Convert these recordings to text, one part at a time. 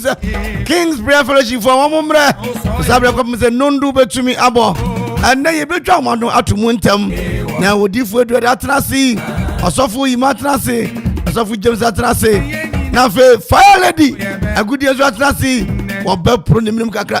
sɛ kings prayer fellowship fo wɔn mmerɛ saa berɛ kɔpem sɛ nnondo bɛtumi abɔ ɛnɛ yɛbɛtwa wɔn ano ato mu ntɛm na wɔdifoɔ aduade atena ase ɔsɔfo yima atena ase ɔsɔfo james atena ase na afei fire lady agudeɛ nso atena ase wɔbɛporo ne menem kakra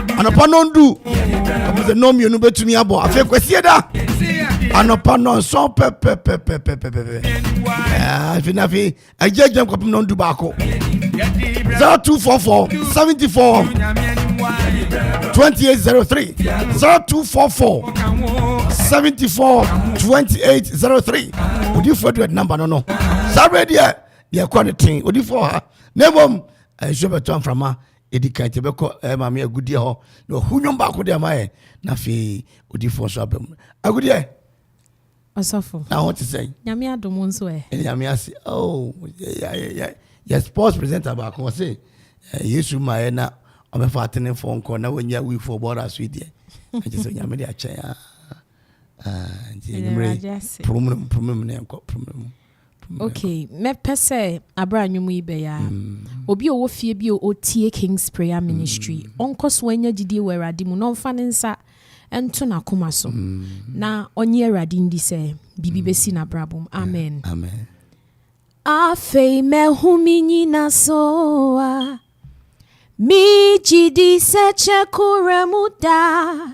anɔpa nɔndu ɔmo sɛ nɔn mmienu bɛtumi abɔ afei kwasie da anɔpa nɔnsɔn pɛpɛpɛpɛpɛpɛpɛ afei na afei agya agya nkɔpem nɔndu baako zero two four four seventy four twenty eight zero three zero two four four seventy four twenty eight zero three odiifo adu ɛdi namba no no saa bɛ deɛ deɛ ɛkɔ ne ten odiifo ha na mmom nsuo bɛtɔ mframa. ɛdi kan nti ɛbɛkɔ eh, maame agudeɛ hɔ na ɔhu nnwom baako de ama yɛ na afei odifoɔ nso aba mu agudeɛ ɔsɔfo na ho te sɛn nyame adom nso ɛ ɛne nyame ase oh, yɛ sports presenter baako ɔse eh, yesu maɛ na ɔbɛfa atenefoɔ nkɔ na wɔnya wifoɔ bɔra so deɛ ɛkyɛ sɛ nyame de akyɛn a ah, ah, nti ɛnimmerɛ promnom promnom ne ɛnkɔ promnom Ok mɛpɛ sɛ aberɛ a nwom yi bɛyɛ a obi a ɔwɔ fie bi a ɔtie King's Prayer Ministry ɔnkɔ so anya gyidie wɔ Awurade mu na ɔmfa ne nsa nto n'akoma so na ɔnye Awurade ndi sɛ biribi bɛsi n'abrabɔ mu. Amen. Amen. Afei mahu me nyina so a megye di sɛ kyɛ kora mu da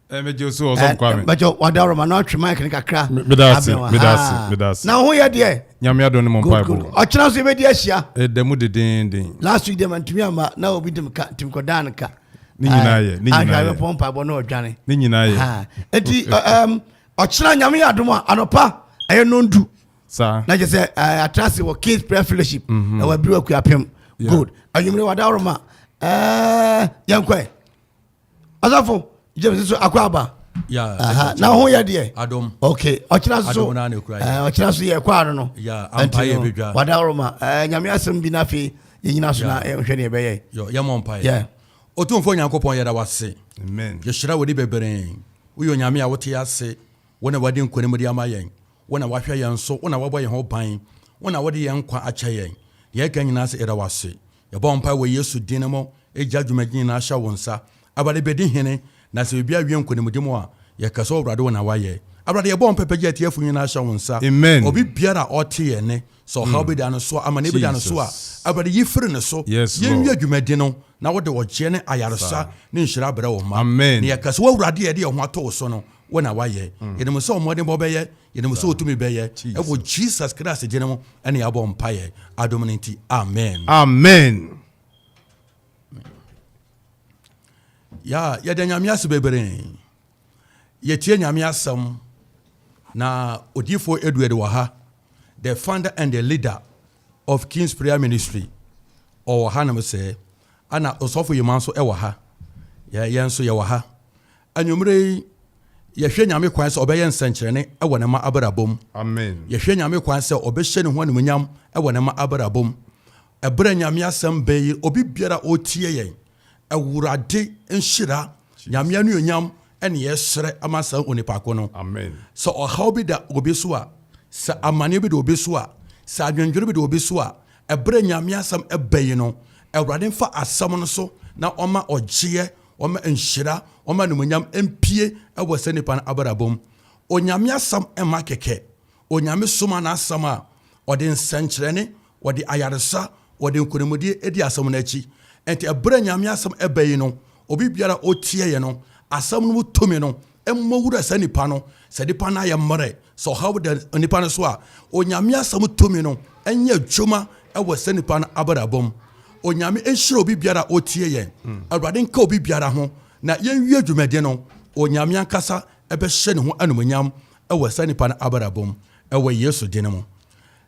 ɛmɛgye eh, so ɔsɔ eh, nkwame bɛkyɛ wadaworo ma na ɔtwe mic no kakra medase medase medase na ho yɛ deɛ nyame adɔ ne mo mpa ɛbɔ ɔkyena so yɛbɛdi ahyia ɛda mu dedenden last week deɛ mantumi ama na obi dem ka nti mekɔdaa no ka ne nyinaa yɛ ne nyinaa yɛ ahwɛ bɛpɔ mpa ɛbɔ na ɔdwane ne nyinaa yɛ ɛti ɔkyena nyame yɛ adom a anɔpa ɛyɛ nondu saa na kyɛ sɛ atra ase wɔ kings prayer fellowship mhm. ɛwɔ abiri wɔ kuapem good anwummerɛ wadaworo ma yɛnkɔɛ asafo james nso akɔ aba na ho yɛ deɛ ok ɔkyena so ɔkyena so yɛ ɛkɔ ano no nti wada woroma nyame asɛm bi no afei yɛnyina so na nhwɛ ne ɛbɛyɛ yɛmɔ mpaeɛ ɔtumfoɔ nyankopɔn yɛda wase yɛhyira wode bebree woyɛ onyame a wote ase wo na wade nkonim de ama yɛn wo na wahwɛ yɛn so wo na wabɔ yɛn ho ban wo na wode yɛn nkwa akyɛ yɛn deɛ ɛka nyinaa sɛ yɛda wase Yɛbɔ mpae wɔ Yesu din mu, Egya dwumadie nyinaa hyɛ wo nsa, Awurade bɛdi hene, na sɛ biribiara wie nkonimdi mu a, yɛka sɛ Awurade wo na woayɛ. Awurade yɛbɔ mpae pɛ gye atiefo nyinaa hyɛ wo nsa, Amen. obi biara a ɔte yɛn nne, sɛ ɔhaw bi da no so a, amaneɛ bi da no so a, Jesus. Awurade yi firi ne so, Yes yɛn wie Lord. dwumadi no, na wode ɔgyeɛ ne ayaresa Saa. ne nhyira abrɛ wo mma, Amen. na yɛka sɛ W'Awurade a yɛde yɛn ho ato wo so no, wo na woayɛ. Yɛnim sɛ wo mmɔdenbɔ bɛyɛ, Yɛnim sɛ otumi bɛyɛ. Ɛwɔ Jesus Christ gyene mu ɛne yɛabɔ mpaeɛ adom no nti. Amen. Amen. Ya yɛda Nyame ase bebree. Yɛtie Nyame asɛm na odiifo Edward wɔ ha. The founder and the leader of King's Prayer Ministry. Ɔwɔ ha nom sɛ. Ana ɔsɔfo Yema nso ɛwɔ ha. Yɛn nso yɛwɔ ha. Anwumerɛ yi, yɛhwɛ Nyame kwan sɛ Ɔbɛyɛ nsɛnkyerɛnne wɔ ne mma abrabɔ mu. Amen. Yɛhwɛ Nyame kwan sɛ Ɔbɛhyɛ Ne ho animuonyam wɔ ne mma abrabɔ mu. Ɛberɛ a Nyame asɛm bɛn yi, obi biara a ɔretie yɛn, Awurade nhyira, Nyame anuonyam ne yɛsrɛ ma saa onipa ko no. Amen. Sɛ ɔhaw bi da obi so a, sɛ amaneɛ bi da obi so a, sɛ adwendwene bi da obi so a, ɛberɛ a Nyame asɛm bɛn yi no, Awurade mfa asɛm no so na ɔma ɔgyeɛ Wɔma nhyira, wɔma animuonyam mpue wɔ saa nipa no abrabɔ mu. Onyame asɛm mma kɛkɛ. Onyame soma n'asɛm a, ɔde nsɛnkyerɛnne, ɔde ayaresa, ɔde nkonimdie di asɛm no akyi. Nti ɛberɛ a Nyame asɛm ba yi no, obi biara a ɔtieɛ no, asɛm no mu tumi no Mmɔ wura saa nipa no, sɛ nipa no ayɛ mmerɛ, sɛ ɔhaw da nipa no so a, Onyame asɛm tumi no nyɛ adwuma wɔ saa nipa no abrabɔ mu. Onyame nhyira obi biara a ɔtie yɛn. Hmm. Awurade nka obi biara ho na yɛnwie dwumadi no, Onyame ankasa ɛbɛhyɛ ne ho animonyam wɔ saa nipa no abrabɔ mu wɔ Yesu din mu.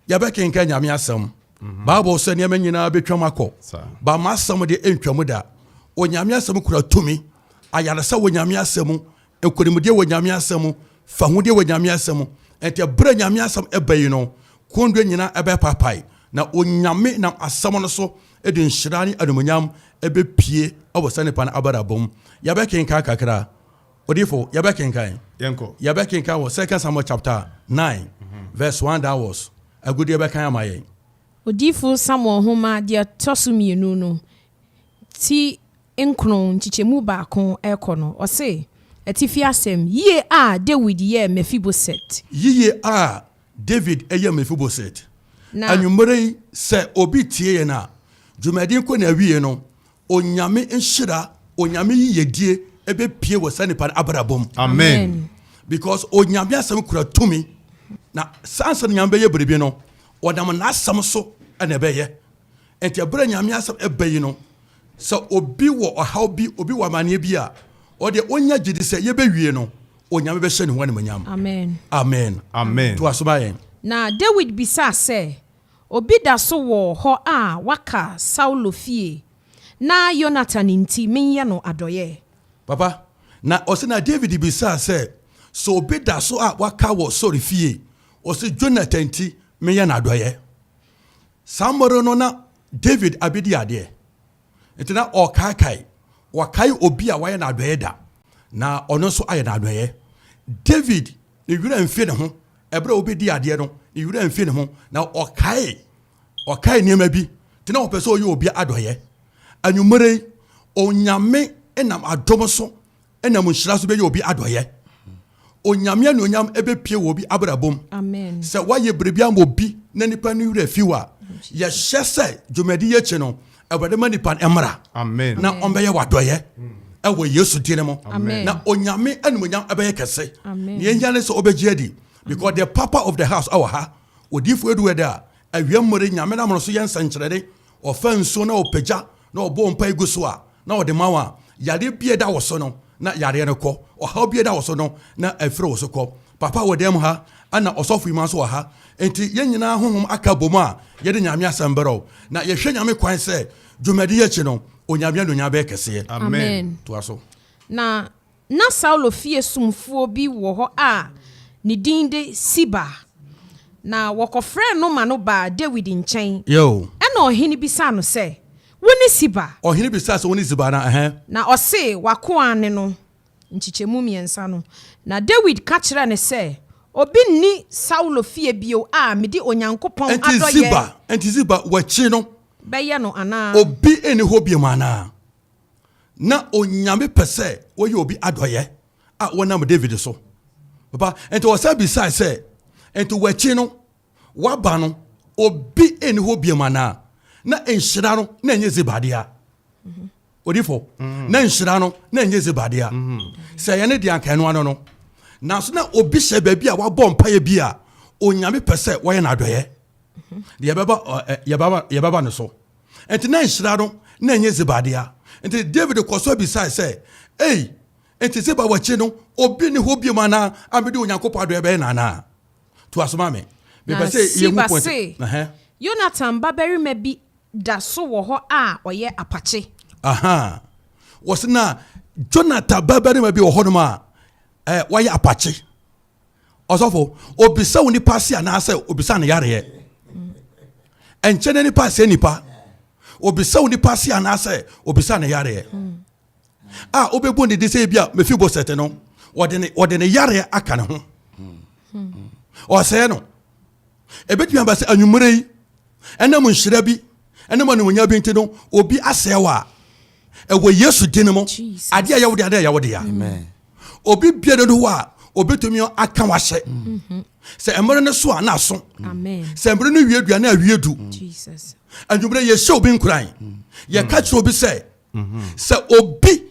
Yɛbɛkenka Nyame asɛm. Hmm. Bible sɛ nneɛma nyinaa bɛtwam akɔ, ba ma asɛm de ntwam da. Onyame asɛm kura tumi ayaresa wɔ Nyame asɛm mu, nkonimdie wɔ Nyame asɛm mu, fahudeɛ wɔ Nyame asɛm mu. Enti ɛberɛ Nyame asɛm ɛba yi no, kɔndua nyinaa ɛbɛpaapae, na Onyame nam asɛm no so de nhyira ne animuonyam ɛbɛpue wɔ saa nipa no abrabɔ mu. Yɛbɛkenkan kakra, Odiyifo, yɛbɛkenkan? Yɛnkɔ. Yɛbɛkenkan wɔ Second Samuel chapter nine verse one downwards, Agudeɛ bɛkan ama yɛn. Odiyifo Samuel Nwoma deɛ ɛtɔ so mmienu no ti nkron nkyekyɛmu baako rekɔ no, ɔse, Atifi asɛm, Yiye a Dawid yɛɛ Mefiboset. Yiye a Dawid yɛɛ Mefiboset. Na. Anwummere yi, sɛ obi tie yɛn a, dwumadi kɔ n'awiei no, Onyame nhyira, Onyame yiyedie ɛbɛpue wɔ saa nipa no abrabɔ mu. Amen. Because Onyame asɛm kura tumi. Na saa ansa na Onyame bɛyɛ biribi no, ɔnam N'asɛm so na ɛbɛyɛ. Enti bere a Nyame asɛm ba yi no, sɛ obi wɔ ɔhaw bi, obi wɔ amanneɛ bi a, ɔde ɔnya gyidi sɛ yɛbɛwie no, Onyame bɛhyɛ ne ho animonyam. Amen. Amen. Amen. To aso ma yɛn. Na Dawid bisaa sɛ, Obi da so wɔ hɔ a waka Saulo fie na Yonatan nti menyɛ no adɔeɛ? Papa, na ɔse na David bisaa sɛ, sɛ obi da so a waka wɔ Saul fie, ɔse Jonathan nti menyɛ no adɔeɛ. Saa mmere no na David abedi adeɛ, enti na ɔrekaekae, wakae obi a wayɛ no adɔeɛ da, na ɔno nso ayɛ no adɔeɛ. David, ne werɛ amfi ne ho, ɛberɛ a ɔbɛdii adeɛ no, ne werɛ amfi ne ho, na ɔkae, ɔkae nneɛma bi, nti na ɔpɛ sɛ ɔyɛ obi adɔeɛ. Anwummere yi, Onyame nam adom so ɛna mu nhyira so bɛyɛ obi adɔyɛ onyame anuonyam ɛbɛpie wɔ obi abrabom sɛ woayɛ biribi ama obi na nipa no werɛ fi wo a yɛhyɛ sɛ dwumadi yɛ akyi no awurade ma nipa no mmra na ɔmbɛyɛ wadɔyɛ ɛwɔ yesu din mu na onyame anuonyam ɛbɛyɛ kɛse na yɛnya ne sɛ ɔbɛgye adi because the papa of the house ɛwɔ ha odiifoɔ ɛdu ɛda a Awia mmɔre Nyame nam no so yɛ nsɛnkyerɛnne, ɔfa nsuo na ɔpagya na ɔbɔ mpae gu so a, na ɔde ma wo a, yareɛ biara da wo so no, na yareɛ no kɔ, ɔhaw biara da wo so no, na afiri wo so kɔ. Papa wɔ dan mu ha, ɛna ɔsɔfo Ewima nso wɔ ha, enti yɛn nyinaa honhom aka abom a yɛde Nyame asɛm brɛw, na yɛhwɛ Nyame kwan sɛ dwumadi yi akyi no, Onyame anuonyam bɛyɛ kɛseɛ. Amen. Toa so. Na Ná Saulo fie somfoɔ bi wɔ hɔ a ne din de Siba, na wɔkɔfrɛɛ no ma no baa Dawid nkyɛn. Ɛnna ɔhene bisaa no sɛ, Wone Siba? Ɔhene bisaa sɛ, Wone Siba anaa? Ɛhɛɛ. Na ɔsee, W'akoa ne no, nkyekyɛmu mmiɛnsa no. Na Dawid ka kyerɛɛ no sɛ, Obi nni Saulo fie bio a mede Onyankopɔn adɔeɛ. Enti Siba, wɔakyi no. Bɛyɛ no anaa? Obi nni hɔ bio anaa? Na Onyame pɛ sɛ wɔyɛ obi adɔyɛ a wɔnam David so. Papa, nti wɔsan bisae sɛ, nti wɔakyi no, wɔaba no, obi nni hɔ biam anaa? Na nhyira no na ɛnyɛ zibadea. Mhm. Odifo, mhm. na nhyira no na ɛnyɛ zibadea. Mhm. Sɛ ɛyɛ ne deɛ anka ɛno ano no. Nanso na obi hyɛ baabi a wabɔ mpaeɛ bi a Onyame pɛ sɛ wɔyɛ no adɔyɛ. Yɛbɛba no so. Enti na nhyira no na ɛnyɛ Ziba dea. Enti Dawid kɔɔ so bisae sɛ, Ei, enti Ziba wakyi no, obi nni hɔ bio anaa a mede Onyankopɔn adɔe bɛyɛ no anaa? Toa so ma me. Na Siba se, Yonatan babarima bi da so wɔ hɔ a ɔyɛ apakye. Aha. Wɔse na Jonatan babarima bi wɔ hɔnom a wayɛ apakye. ɔsɔfo obisa wo nipa ase anaasɛ obisa ne yareɛ ɛnkyɛ ne nipa sɛ nipa obisa wo nipa ase anaasɛ obisa ne yareɛ a wobɛbu ne de sɛ bi a mefi bɔ sɛte no wɔde ne yareɛ aka ne ho ɔsɛɛ no ɛbɛtumi aba sɛ anwummerɛ yi ɛnam nhyira bi Ɛnam animuonyam bi nti no, obi asɛe wo a, ɛwɔ Yesu din mu. Adeɛ a ɛyɛ wo dea, adeɛ a ɛyɛ wo dea. Obi bie no do hɔ a, obetumi aka w'ahyɛ. Mhm. Sɛ mmerɛ no so a na aso. Sɛ mmerɛ no wie du a na awie du. Anwummerɛ yɛhyɛ obi nkuran. Mm. Yɛka kyerɛ obi sɛ, mhm. sɛ obi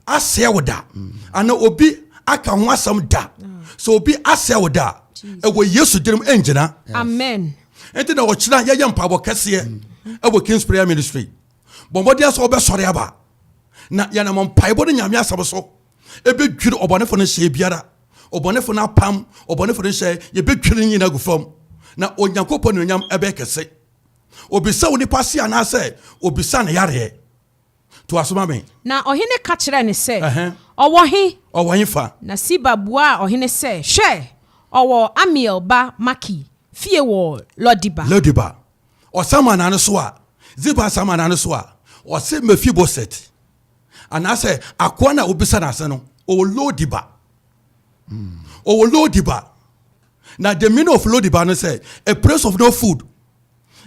asɛe wo da anaa obi aka ho asɛm da sɛ obi asɛe wo da ɛwɔ yesu dirim ɛngyina amen ɛnti na ɔkyena yɛyɛ mpaebɔ kɛseɛ ɛwɔ kings prayer ministry bɔ mmɔden sɛ wobɛsɔre aba na yɛnam mpaebɔ no nyame asɛm so ɛbɛdwiri ɔbɔnefo no hyɛ biara ɔbɔnefo no apam ɔbɔnefo no hyɛ yɛbɛdwiri no nyina agu fam na onyankopɔn nuonyam ɛbɛyɛ kɛse obisa wo nipa se anaasɛ obisa ne yareɛ Toa so ma me. Na ɔhene ka kyerɛɛ no sɛ, Ɔwɔ he? Ɔwɔ he fa? Na Siba buaa ɔhene sɛ, Hwɛ, ɔwɔ Amiel ba Makir fie wɔ Lo-Debar. Lo-Debar. Ɔsan ma nane so a, Ziba san ma nane so a, ɔse, Mefiboset, anaasɛ akoa no a wobisa no ase no, ɔwɔ Lo-Debar. Ɔwɔ Lo-Debar. Na the meaning of Lo-Debar no sɛ, a place of no food.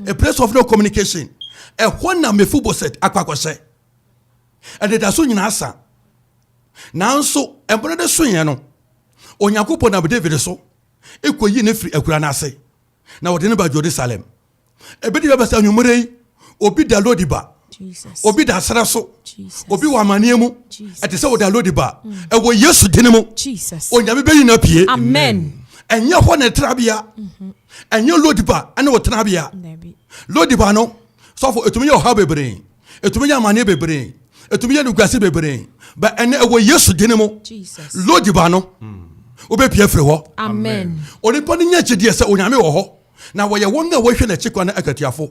a place of no communication ɛhɔ na mefiboset akɔ akɔhyɛ ɛdedaso nyinaa sa nanso ɛmmerɛ de soeɛ no onyankopɔn nam david so ɛkɔyi ne firi akura no ase na wɔde ne ba jerusalem ɛbɛdi bɛbɛ sɛ anwummerɛ yi obi da lodi ba obi da serɛ so obi wɔ amaneɛ mu ɛte sɛ wɔde alodi ba mm. ɛwɔ yesu dene mu onyame bɛyi no apue ɛnyɛ hɔ ne trabea mm-hmm. ɛnyɛ lodiba ɛne wo trabea lodiba no sɔfo ɛtumi yɛ ɔhaw bebree ɛtumi yɛ amaneɛ bebree ɛtumi yɛ nogase bebree ba ɛnɛ ɛwɔ yesu dene mu lodiba no mm. wobɛpia firi hɔ onipa no nya kyideɛ sɛ onyame wɔ hɔ na wɔyɛ wɔn a wɔhwɛ n'akyi kwan no akatiafo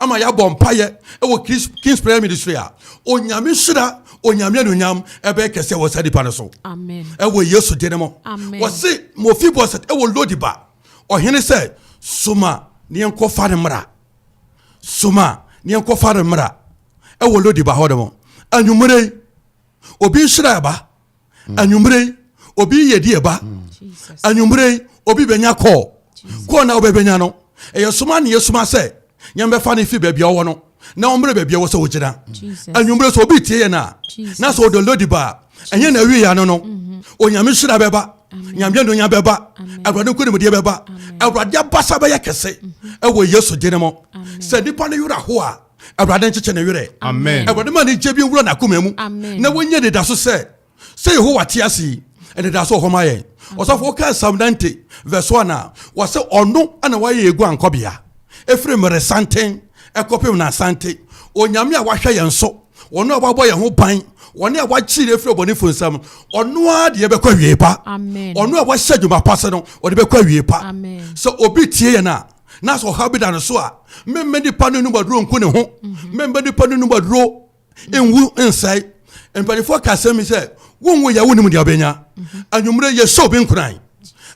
ama yɛabɔ mpaeɛ wɔ Kings Prayer Ministry a, Onyame nhyira, Onyame anuonyam ɛbɛyɛ kɛseɛ wɔ saa nipa no so. Ɛwɔ Yesu din mu. Wɔse Mefibosɛt ɛwɔ Lodiba. Ɔhene sɛ, soma ne yɛnkɔfa no mmra. Soma ne yɛnkɔfa no mmra. Ɛwɔ Lodiba hɔ nom. Anwummerɛ yi, obi nhyira ɛba. anwummere yi obi yɛ die ba anwummere yi obi bɛnya kɔɔ kɔɔ na wobɛbɛnya no ɛyɛ soma ne yɛsoma sɛ nyɛmbɛfa no fi baabi a ɔwɔ no na ɔmmerɛ baabi a wɔ sɛ wogyina anwummere sɛ obi tie yɛ no a na sɛ ɔdɔ lodi baa ɛnyɛ na awie ya no no mhm. onyame hyira bɛba nyame nonya bɛba awurade nkonimdeɛ bɛba awurade abasa bɛyɛ kɛse mhm. ɛwɔ yesu gyene mu sɛ nipa no werɛ ho a awurade nkyekyɛ ne werɛ awurade ma ne gye bi nwura n'akoma mu na wɔnyɛ anidaso sɛ sɛ yehowa te ase yi anidaso wɔ hɔ ma yɛn ɔsɔfo wokaa psalm 90 verse 1 a wɔsɛ ɔno ana wayɛ yɛ guankɔbea ɛfiri mmere santen ɛkɔpem na asante onyame a wahwɛ yɛn so wɔn a wabɔ yɛn ho ban wɔn a wakyi yɛn firi ɔbɔnefo nsam ɔno ara deɛ bɛkɔ awie pa ɔno a wahyɛ adwuma pa se no ɔde bɛkɔ awie pa sɛ obi tie yɛn a na sɛ ɔhaw bi da no so a mmɛmma nipa no anum aduro nku ne ho mhm. mmɛmma nipa no anum aduro nwu nsɛe mpanimfoɔ ka asɛm bi sɛ wonwo yɛ wonim deɛ ɔbɛnya mhm. anwummerɛ yɛhyɛ obi nkuran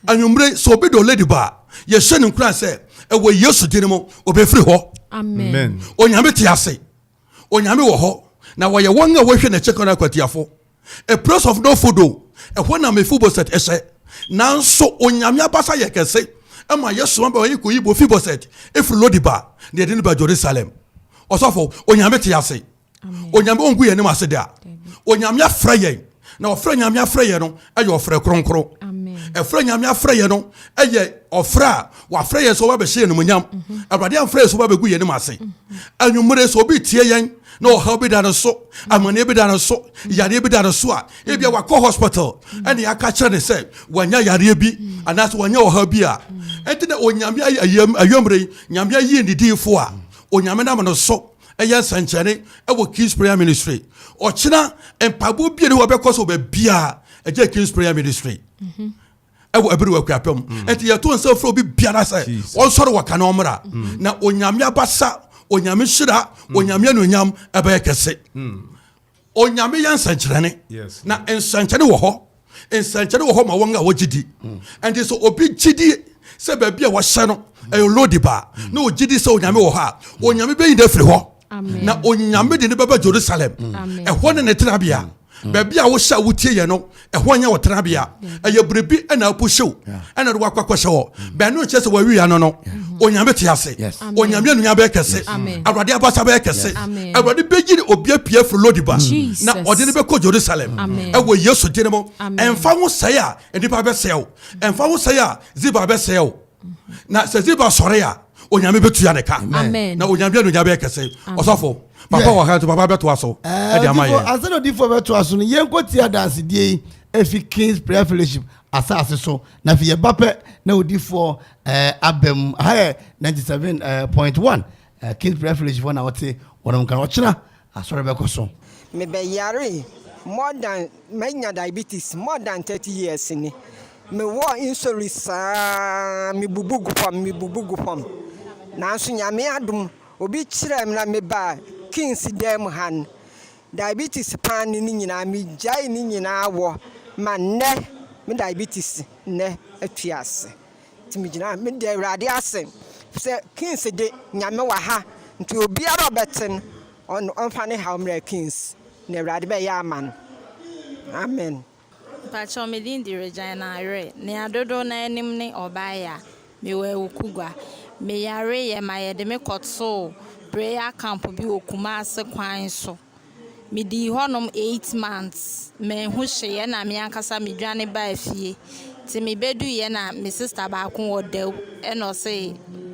anwummerɛ sɛ obi de ɔladi baa yɛhyɛ ne nkuran sɛ ɛwɔ yesu din mu ɔbɛfiri hɔ onyame te ase Onyame wɔ hɔ, na wɔyɛ wɔn a wɔhwɛ n'akyi kwan akwatiafo. A place of no food o, ɛhɔ na Mefiboset hyɛ. Nanso Onyame abasa yɛ kɛse ma yɛsoma bɛ ma yɛkɔyi Mefiboset firi Lodibar na yɛde no ba Jerusalem. Ɔsɔfo, Onyame te ase. Onyame ɔngu yɛn anim ase da. Onyame afrɛ yɛn. na ɔfrɛ nyame afrɛ yɛ no ɛyɛ ɔfrɛ kronkron ɛfrɛ nyame afrɛ yɛ no ɛyɛ ɔfrɛ a wafrɛ yɛ sɛ ɔba bɛhyɛ yɛ nomonyam mhm. awurade amfrɛ yɛ sɛ ɔba bɛgu yɛ nom ase mhm. anwummere sɛ obi tie yɛn na ɔhaw bi da no so mhm. amaneɛ bi da no so yareɛ bi da no so a ebia wakɔ hospital ɛne aka kyerɛ ne sɛ wanya yareɛ bi anaasɛ wanya ɔhaw bi a ɛnti na onyame ayammerɛ nyame ayie ne diifoɔ a onyame nam no so ɛyɛ nsɛnkyerɛnne ɛwɔ King's Prayer Ministry. Ɔkyena mpaebɔ bie ne hɔ bɛkɔ so baabiara ɛgye King's Prayer Ministry. Mm -hmm. ɛwɔ ɛbiri wɔ akuapɛ mu mm. nti yɛto nsa fura obi biara sɛ ɔnsɔre wɔ kan ɔmra mm. na onyame abasa onyame hyira mm. onyame anuonyam ɛbɛyɛ kɛse Onyame yɛ nsɛnkyerɛne na nsɛnkyerɛne wɔ hɔ nsɛnkyerɛne wɔ hɔ ma wɔn a wɔgye di ɛnti sɛ obi gye di sɛ baabi a wɔhyɛ no ɛyɛ lodi baa na ɔgye di sɛ onyame wɔ hɔ a onyame bɛyi no afiri hɔ na onyame de no bɛba jerusalem ɛhɔ ne ne tenabea baabi a wohyɛ a wotie yɛ no ɛhɔ nyɛ wɔ tenabea ɛyɛ biribi ɛna apuhyew ɛna de wakɔ akɔhyɛ hɔ bɛn no nkyɛ sɛ wawi ano no onyame te ase onyame anunya bɛyɛ kɛse awurade abasa bɛyɛ kɛse awurade bɛyi ne obi apue firi lodiba na ɔde ne bɛkɔ jerusalem ɛwɔ yesu din mu ɛmfa ho sɛe a nnipa bɛsɛe wo ɛmfa ho sɛe a ziba bɛsɛe wo na sɛ ziba sɔre a onyame bɛtua ne ka na onyame anunya bɛyɛ kɛse ɔsɔfo papa wɔ ha nti papa bɛtoa so ɛde ama yɛ ansa na odifoɔ bɛtoa so no yɛnkɔ tie adansedie yi ɛfi kings prayer fellowship asase so na afei yɛba pɛ na odifoɔ eh, aba mu aha yɛ 97.1 Ɛyɛ King's Refuge fo na wɔte wɔnom nka no. Ɔkyena asɔre bɛkɔ so. Me bɛ yare more than ma nya diabetes more than thirty years ni me wɔ nsɔri saa me bubu gu fam me bubu gu fam nanso nyame adom obi kyerɛ me na me ba kings dan mu ha no diabetes paa ne ne nyinaa me gyae ne nyinaa wɔ ma nnɛ me diabetes nnɛ atwi ase. Nti megyina ha, meda Awurade ase sɛ Kings de, Nyame wɔ ha, nti obiara a ɔbɛte no, ɔno ɔmfa ne haw mmrɛ Kings, na Awurade bɛyɛ ama no. Amen. Mpakyɛw me din de Regina Ayerɛ, nea dodow no ara nim ne Ɔbaayea. Mewɔ Awukugua. Me yareɛ ma yɛde me kɔtoo prayer camp bi wɔ Kumase kwan so. Medii hɔnom eight months, manhu hwee ɛna me ankasa me dwane baa fie. Te me bɛduiɛ na me sister baako wɔ Dawu ɛna ɔse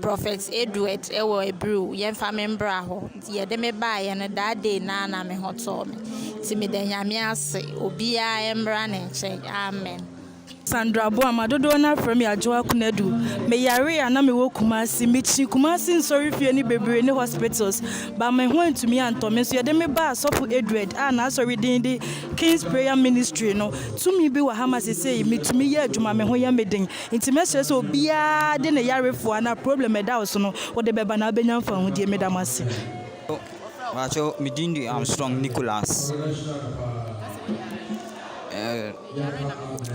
Prophet Edward ɛwɔ Abril yɛmfa me mbra hɔ. Nti yɛde me baeɛ no that day no ara na me ho tɔɔ me. Nti meda Nyame ase, obiara mbra ne nkyɛn. Amen. Sandra Boamah, dodoɔ no ara frɛ me Adwoa Konadu. Me yaree a na me wɔ Kumasi. Me kyi Kumasi nsɔrefie no bebree ne hospitals but me ho antumi antɔ me nso yɛde me baa sɔfo Edward a n'asɔre din de Kings Prayer Ministry no. Tumi bi wɔ ha ma sesei me tumi yɛ adwuma me ho yɛ me den nti mɛsrɛ sɛ obiara de ne yarefoɔ anaa problem a ɛda wo so no wo de bɛba na wo bɛnya mfahodie. Me da mo ase. Mpakyɛw me din de Armstrong Nicholas.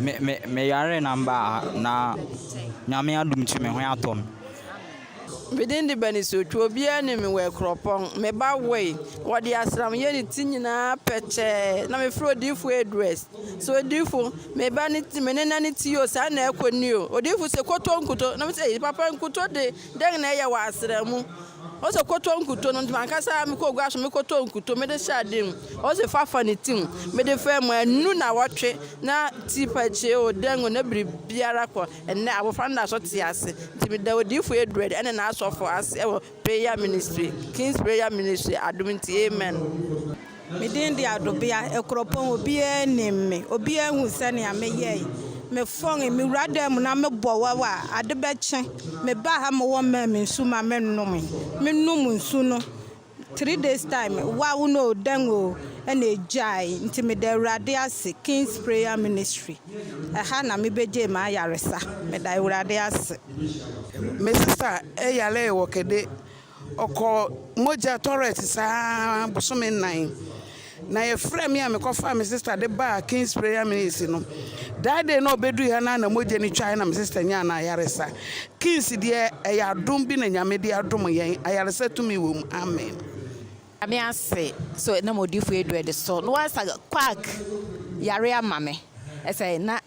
Me me me yare na mba ha na Nyame adom ntsi me ho atɔ me. Me din de Banisotwe, obiara nim me wɔ Akuropɔn. Me ba woe, wɔde asram yɛ ne ti nyinaa pɛkyɛɛ, na mefrɛ Odiyifo Edwards sɛ, Odiyifo, me ba ne ti, me nena ne ti o, saa na ɛkɔ ni o. Odiyifo se, Koto nkuto. Na mese, Ei, papa, nkuto de, dɛn na ɛyɛ wɔ asram mu? Ose kɔtɔ nkuto no nti mankasa mekɔɔ gua so mekɔtɔɔ nkuto mede hyɛɛ adeɛ mu ose fa fa ne ti mu mede faa mu anu nawɔtwe na ti pakyee o dɛn o na biribiara kɔ ɛnnɛ abɔfra no da so te ase nti meda odiyifoɔ Edward ɛne n'asɔfoɔ ase ɛwɔ prayer ministry King's prayer ministry adom nti amen. Me din de Adobea, Akuropɔn, obiara nim me, obiara hu sɛnea meyɛe. Mefɔn, mewura dan mu na mebɔ waw a, ade bɛkye. Mebaa ha ma wɔmaa me nsu ma menom. Menom nsu no, three days time, waw no o, dɛn o, ɛnna egyae. Nti meda Awurade ase, King's Prayer Ministry, ɛha na mebegyee m'ayaresa. Meda Awurade ase. Mesesaa yaree wɔ kɛde. Ɔkɔɔ mogya tɔrɛt saa bosome nnan. Na yɛfrɛɛ me a mekɔfaa me sista de baa King's Prayer Ministry no. That day na ɔbɛdui ha no ara na mogya no twae na me sista nyaa no ayaresa. King's deɛ ɛyɛ adom bi na Nyame de adom yɛn. Ayaresa tumi wɔ mu. Amen. Nyame ase so ɛnam odifo Edred so na wasa quack yare ama me ɛsɛ na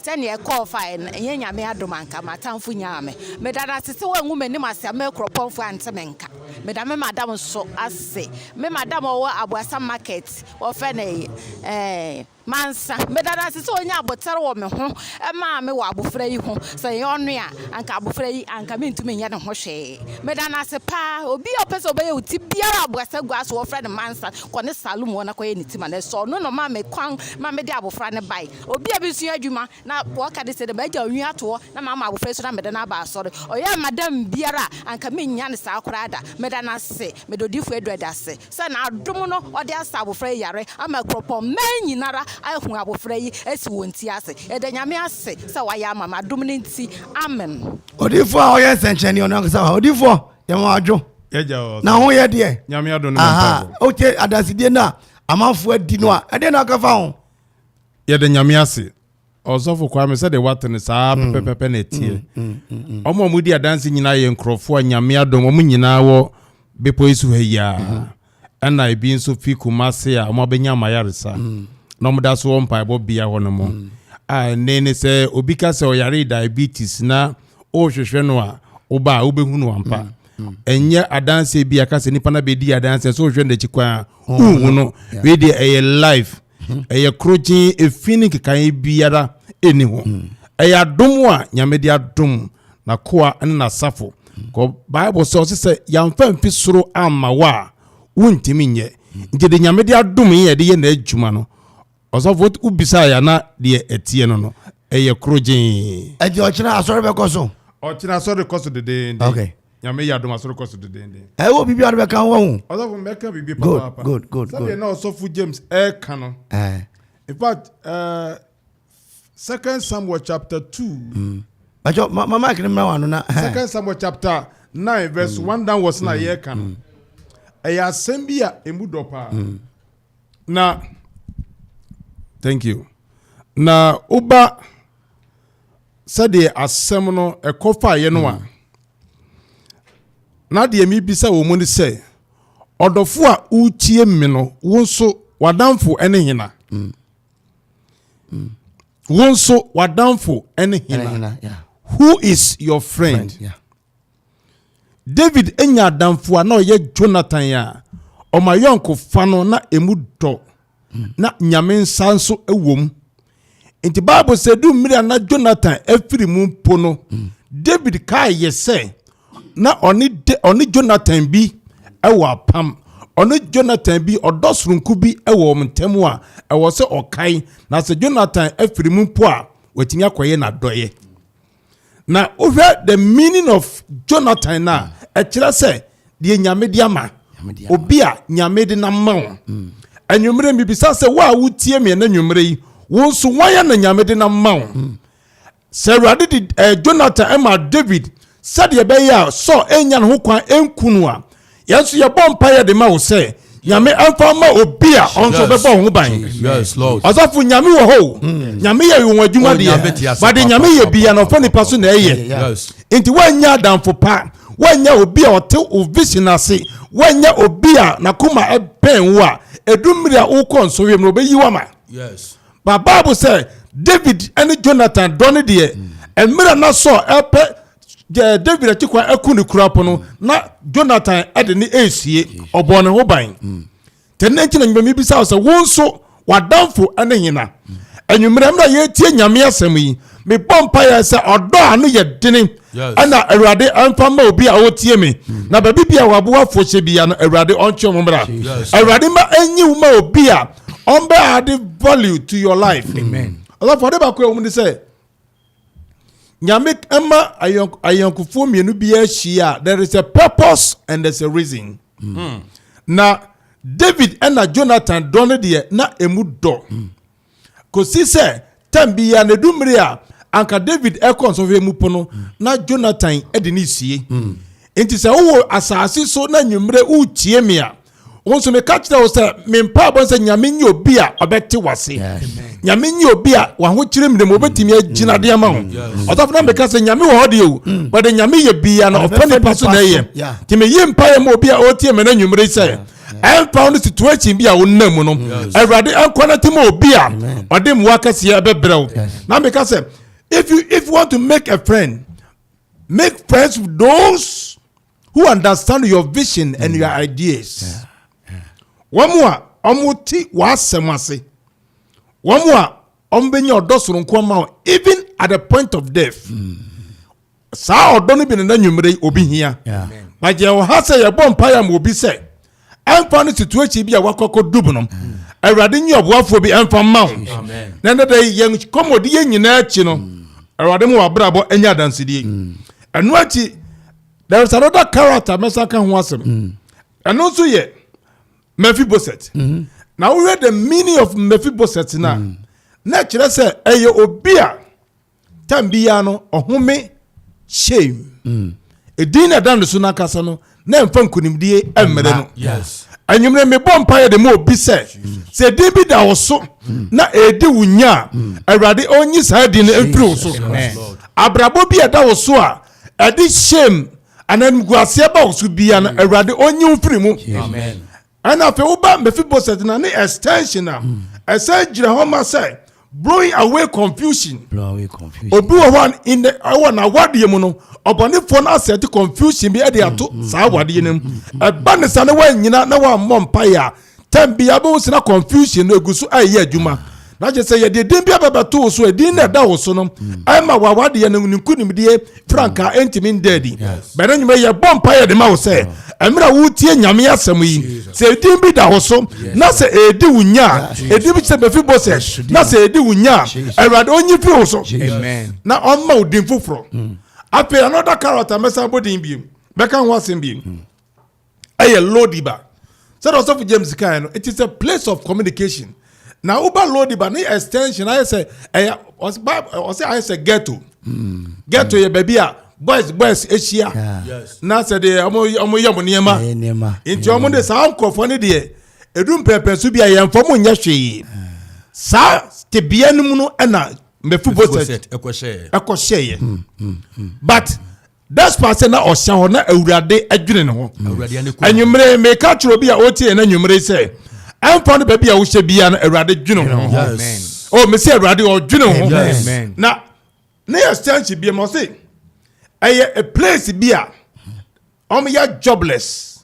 sɛ nea ɛkɔɔ fa ɛnyɛ Nyame adom anka m'atamfo nyaa me meda no ase sɛ wangu m'anim ase ama akuropɔnfo ante me nka meda me madam nso ase me madam ɔwɔ aboasa market wɔfɛ ne ɛɛ Mansa. Meda no ase sɛ onyaa aboterɛ wɔ me ho maa me wɔ abofra yi ho. Sɛ ɛnyɛ ɔno a, anka abofra yi, anka mentumi nyɛ ne ho hwee. Meda no ase paa. Obi a ɔpɛ sɛ ɔbɛyɛ wo ti biara a Boasagua so, wɔfrɛ no Mansa, kɔ ne salon hɔ na kɔyɛ ne ti ma no. Ɛsɛ ɔno na ɔmaa me kwan ma mede abofra no bae. Obi a mesua adwuma na wɔka ne sɛ dɛ magyaw nwi ato hɔ na mama abofra yi so na mede no aba asɔre. Ɔyɛɛ m'adam biara a anka mennya no saa koraa da. Meda no ase. Meda Odiyifo Edward ase. sɛ n'adom no ɔde asa abofra yi yare ama kuropɔnman nyinara ahu abofra yi asi wɔn ti ase. Yɛda Nyame ase sɛ wayɛ ama me, adom no nti, amen. Odiyifoɔ a ɔyɛ nsɛnkyerɛnne ɔno ankasa hɔ a odiyifoɔ yɛ ma wadwo na ho yɛ deɛ aha wotie adansedie no a amanfoɔ adi no a ɛdeɛ na ɔka fa ho. Yɛda Nyame ase Ɔsɔfo Kwame, sɛdeɛ woate no saa mm. pɛpɛpɛpɛ na ɛteɛ. Mm, mm, Ɔmo a wɔdi adanse nyinaa yɛ nkurɔfoɔ a nyame adom ɔmo nyinaa wɔ bepɔ yi so ha yi a mm-hmm. ɛna ebi nso fi Kumase a wɔn abɛnya amayaresa mm. na wɔn da so wɔ mpaebɔ bea hɔ no mu mm. a ɛnne ne sɛ obi ka sɛ ɔyare diabetes na ɔrehwehwɛ no a ɔba a wobɛhu no ampa mm. ɛnyɛ adanse bi a ka sɛ nipa na bɛdi adanse sɛ ɔhwɛ n'akyi kwan a wohu no wei deɛ ɛyɛ life ɛyɛ korogyen efi ne nkekae biara nni ho ɛyɛ adom a nyame de adom n'akoa ne n'asafo kɔ bible sɛ ɔsɛ sɛ yɛamfa mfi soro amma wo a wontumi nyɛ nti de nyame de adom yɛ de yɛ n'adwuma no ɔsɔfo wobisaa yɛ ana deɛ ɛteɛ no no ɛyɛ koro gyee. Ɛti ɔkyena asɔre bɛkɔ so. Ɔkyena asɔre kɔ so dedeenden. Okay. Nyame yɛ adom asɔre kɔ so dedeenden. Ɛyɛ wɔ biribi a wode bɛka ho ho. Ɔsɔfo mɛka biribi papaapa. Good, good, good. Sɛdeɛ na ɔsɔfo James ɛka no. Eh. In fact, uh, Second Samuel chapter two. Mm. Bàtchọ mama mic ni mìíràn wà nù na. Second Samuel chapter nine verse mm. one downwards na mm. yẹ kan. Mm. Ẹyẹ asẹm bi a emu dọ paa. na thank you na woba sɛdeɛ asɛm no ɛkɔ faeɛ no a hmm. na deɛ mebisa wɔ mu ne sɛ ɔdɔfo a wotie me no wo nso w'adamfo ne hena hmm. Hmm. wo nso w'adamfo ne hena who is your friend, friend yeah. David nya adamfo a na ɔyɛ Jonathan a ɔma ayɔnkofa no na emu dɔ na nyame nsa nso wom. Nti Bible sɛ du mmiri a na Jonathan afiri mu mpo no, David kaayɛ sɛ na ɔne Jonathan bi wɔ apam. Ɔne Jonathan bi ɔdɔ soronko bi wɔ wɔn ntam a ɛwɔ sɛ ɔkae na sɛ Jonathan afiri mu mpo a watumi akɔyɛ n'adɔeɛ. na wohwɛ the meaning of jonathan no a mm. ɛkyerɛ sɛ deɛ nyame de ama obi a nyame de nam ma wo mm. anwummerɛ mibisa sɛ wo a wotie me ɛna nwummerɛ yi wo nso wɔn a na nyame de nam ma wo mm. sɛ awurade de eh, jonathan ma david sɛdeɛ ɛbɛyɛ a sɔ ɛnya ne ho kwan ɛnku no a Yɛn nso yɛbɔ mpaeɛ de ma wo sɛ nyame ɛmfa ma obi a ɔnso bɛbɔ ho ban ɔsɔfo nyame wɔ hɔ hmm. nyame yɛ wɔn adwuma oh, deɛ bade nyame yɛ bia na ɔfa nipa so na ɛyɛ nti woanya adamfo pa woanya obi a ɔte wo vision ase woanya obi a nakoma ɛbɛn wo a ɛdu mmiri a wokɔ nso wiem no ɔbɛyi wama ba bible sɛ david ne jonathan dɔ ne deɛ hmm. mmerɛ na sɔ ɛpɛ deɛ david akyi kwan aku ne kura po no mm. na jonathan de ne ɛresie ɔbɔ ne ho ban mm. tɛ ne nkyɛn na nyuma mi bisa sɛ wo nso wadanfo ne hena mm. anwummerɛ mmerɛ yɛretie nyame asɛm yi mebɔ mpaeɛ sɛ ɔdɔ a no yɛ dene ɛna awurade ɛmfa ma obi a ɔtie me na baabi bi a waboa fohyɛ bia no awurade ɔntwe mo mmra awurade ma ɛnyi wo ma obi a ɔmbɛ ade value to your life ɔsɔfo ɔde baako ɛwɔ mu ne sɛ Nyame ɛma ayɔnkofoɔ mmienu bi ahyia a there is a purpose and there is a reason. Mm. mm. Na David ɛna Jonathan dɔ no deɛ na emu dɔ. Mm. Kòsi sɛ tɛm bi ya na edu mmiri a anka David ɛkɔ nsɔhwɛ mu pono mm. na Jonathan ɛde ne sie. Mm. Nti sɛ wowɔ asaase so na nwummerɛ wotie me a wo nso meka kyerɛ wo sɛ me mpaebɔ sɛ nyame nye obi a ɔbɛte wase nyame nye obi a wahokyere mmere mu obɛtumi agyina deɛ ma wo ɔsɔfo na meka sɛ nyame wɔ hɔ deɛ o mm. wɔde nyame yɛ bia na ɔfa nipa so na ɛyɛ nti meyi mpaeɛ ma obi a ɔretie me no anwummere sɛ ɛmfa wo no situation bi a wonam mu no awurade ɛnkɔ no te ma obi a ɔde mmoa kɛseɛ ɛbɛbrɛ wo na meka sɛ if you if you want to make a friend make friends with those who understand your vision and your mm. ideas wɔn a wɔn ti w'asɛm ase wɔn a wɔn bɛ nya ɔdɔ soronko ama wɔn even at the point of death mm. saa ɔdɔ no bi na na nwumire obi hia bàjẹ́ ɔha sɛ yɛ bɔ mpa yà mọ obi sɛ. ɛmfa no situation bi a wakɔ akɔ dub no awurade nye ɔboafoɔ bi ɛmfa mma wo na ɛnɛ da yi yɛn kɔmɔdi yɛ nyinaa akyi no awurade mu wabrabɔ ɛnyɛ adansedie ɛno akyi there is another character mɛsa ka ho asɛm mm. ɛno nso yɛ mephiboset mm-hmm. na wohwɛ the meaning of mephiboset no a mm. na ɛkyerɛ sɛ ɛyɛ obi a tam biara no ɔhome hyɛm ɛdin na ɛda no so no ankasa no na ɛmfa nkonimdie mmere no anwumere mebɔ mpaeɛ de ma obi sɛ sɛ ɛdin bi da wo so na ɛredi wo nya a awurade ɔnyi saa din no mfiri wo so abrabɔ bi ɛda wo so a ɛde hyɛm ananimguaseɛ ba wo so bia no awurade ɔnyi wo firi mu Ɛnna afei wo ba Mephiboset na ne extension a ɛsɛ gyina hɔ ma sɛ blowing away confusion. Blow away confusion. Obi wɔ hɔ in the ɛwɔ n'awadeɛ mu no ɔbɔnefoɔ no asɛ te confusion bi ɛde ato mm, mm, saa awadeɛ no mu. Mm, Ɛba ne sa na wanyina na wammɔ mpaeɛ a tɛm bi abɛhu sena confusion no egu so ɛyɛ adwuma. na kyerɛ sɛ yɛde din bi abɛbɛto wo so ɛdin na ɛda wo so no mm. ɛma wawadeɛ no ne nkonimdie frankaa ɛntumi nda adi bɛne nwuma yɛbɔ mpa yɛde ma wo sɛ ɛmerɛ a wotie nyame asɛm yi sɛ ɛdin bi da wo so na sɛ ɛdi wo nya a ɛdin bi sɛ bɛfi bɔ sɛ na sɛ ɛdi wo nya a awurade ɔnyi firi wo so na ɔmma wo din foforɔ mm. afei another character mɛsan bɔ din biem bɛka ho asɛm biem mm. ɛyɛ Lodiba. Sɛdeɛ ɔsɔfo James kae no, it is a place of communication. Na woba Lodiba ne extension ayɛ sɛ ɛyɛ ɔsɛ ayɛ sɛ ghetto. Hmm. Ghetto yɛ baabi a boys boys ahyia na sɛ deɛ wɔn yɛ wɔn nneɛma nti wɔn de saa nkurɔfoɔ no deɛ edu mpɛmpɛn so bi a yɛn fam nyɛ hwee saa tebea no mu no ɛna mɛfu bosɛt ɛkɔhyɛɛ yɛ but despite sɛ na ɔhyɛ hɔ na awurade adwene ne ho anwummere meka kyerɛ obi a ɔtie yɛn anwummere sɛ ɛmfa no baabi a wohyɛ biara no awurade dwene ho o oh, mesɛ awurade ɔdwene ho na ne yɛ stansi bi ma ɔse ɛyɛ a place bi a ɔmo yɛ jobless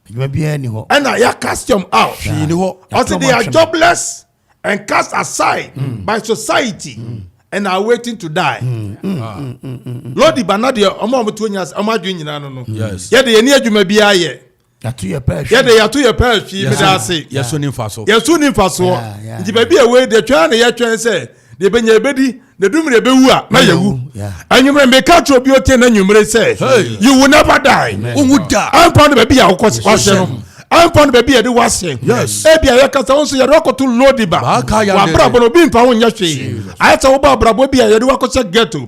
adwuma biara ni hɔ ɛna yɛ cast them out hwee ni hɔ ɔsi they are jobless and cast aside mm. by society mm. and are waiting to die mm. mm. Ah. Mm, mm, mm. lodi bana deɛ ɔmo a ɔmo tuo nyina ɔmo adwene nyinaa no no yɛ de yɛ ni adwuma biara yɛ yɛ de yɛto yɛ pɛɛ hwii mi da ase yɛso ni nfa so yɛso ni nfa so nti baabi a wei de twɛn na yɛ twɛn sɛ deɛ bɛ nyɛ ebedi na du mmerɛ bɛwu a na yɛwu anwummerɛ meka kyerɛ obi ɔte na anwummerɛ sɛ you will never die wowu da ampa no baabi a wokɔ wahyɛ no ampa no baabi a yɛde wahyɛ ebi a yɛkasa wo nso yɛde wakɔto lodi ba wabrabɔ no obi mfa ho nyɛ hwee ayɛ sɛ wobɔ abrabɔ bi a yɛde wakɔhyɛ ghetto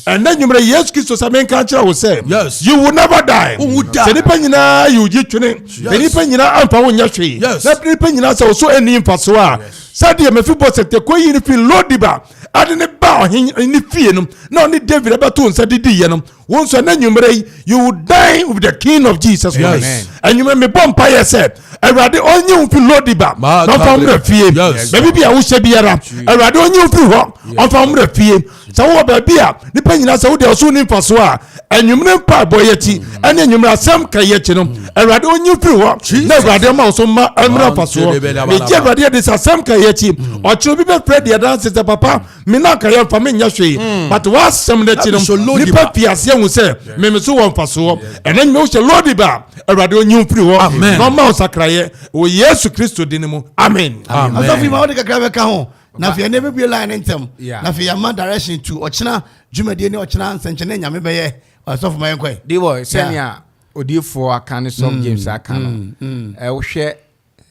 ɛnɛ anwummerɛ yesu kristo sɛ menka kyerɛ wo sɛ you will never die sɛ nnipa nyinaa yɛ ogye twene sɛ nnipa nyinaa ampa ho nyɛ hwee na nnipa nyinaa sɛ wo so ɛnni mfasoɔ a Sɛdeɛ Mefiboset de kɔyii no firi Lo-Debar de no baa ɔhene no fie no, na ɔne David abɛto nsa de diiɛ no, wo nso ɛnɛ anwummerɛ yi, you will dine with the King of Jesus Christ. Yes. Anwummerɛ mebɔ mpaeɛ sɛ, Awurade ɔnyi wo firi Lo-Debar na ɔmfa wo mmra fie. Baabi bi a wohyɛ biara, Awurade ɔnyi wo firi hɔ, ɔmfa wo mmra fie. sɛ wowɔ baabi a nipa nyinaa sɛ wode ɔso ni mfasoɔ a anwummerɛ mpaebɔ yɛ akyi ɛne anwummerɛ asɛm ka yɛ akyi no awurade ɔnyi firi hɔ na awurade ma wo so ma ɛmmra mfasoɔ megye awurade adi sɛ asɛm ka yɛ akyi ɔkyerɛ bi bɛfrɛ deɛ danse sɛ papa me na anka yɛmfa menyɛ hwee hmm. but woasɛm no akyi no nipa fi aseɛ hu sɛ meme so wɔ mfasoɔ ɛna nyuma wohyɛ lodi ba awurade ɔnyi wo firi hɔ na ɔma wo sakrayɛ wɔ yesu kristo din mu amen asafo yi ma wode kakra bɛka ho na afei ɛnna ebibie line ne ntɛm na afei yɛama direction to ɔkyena dwumadie ne ɔkyena nsɛnkyɛnne nyame bɛyɛ ɔsɔfo ma yɛn kɔɛ. de bɔ sɛnea odiifoɔ aka ne sɔm mm, james aka no mm, mm. ɛwohwɛ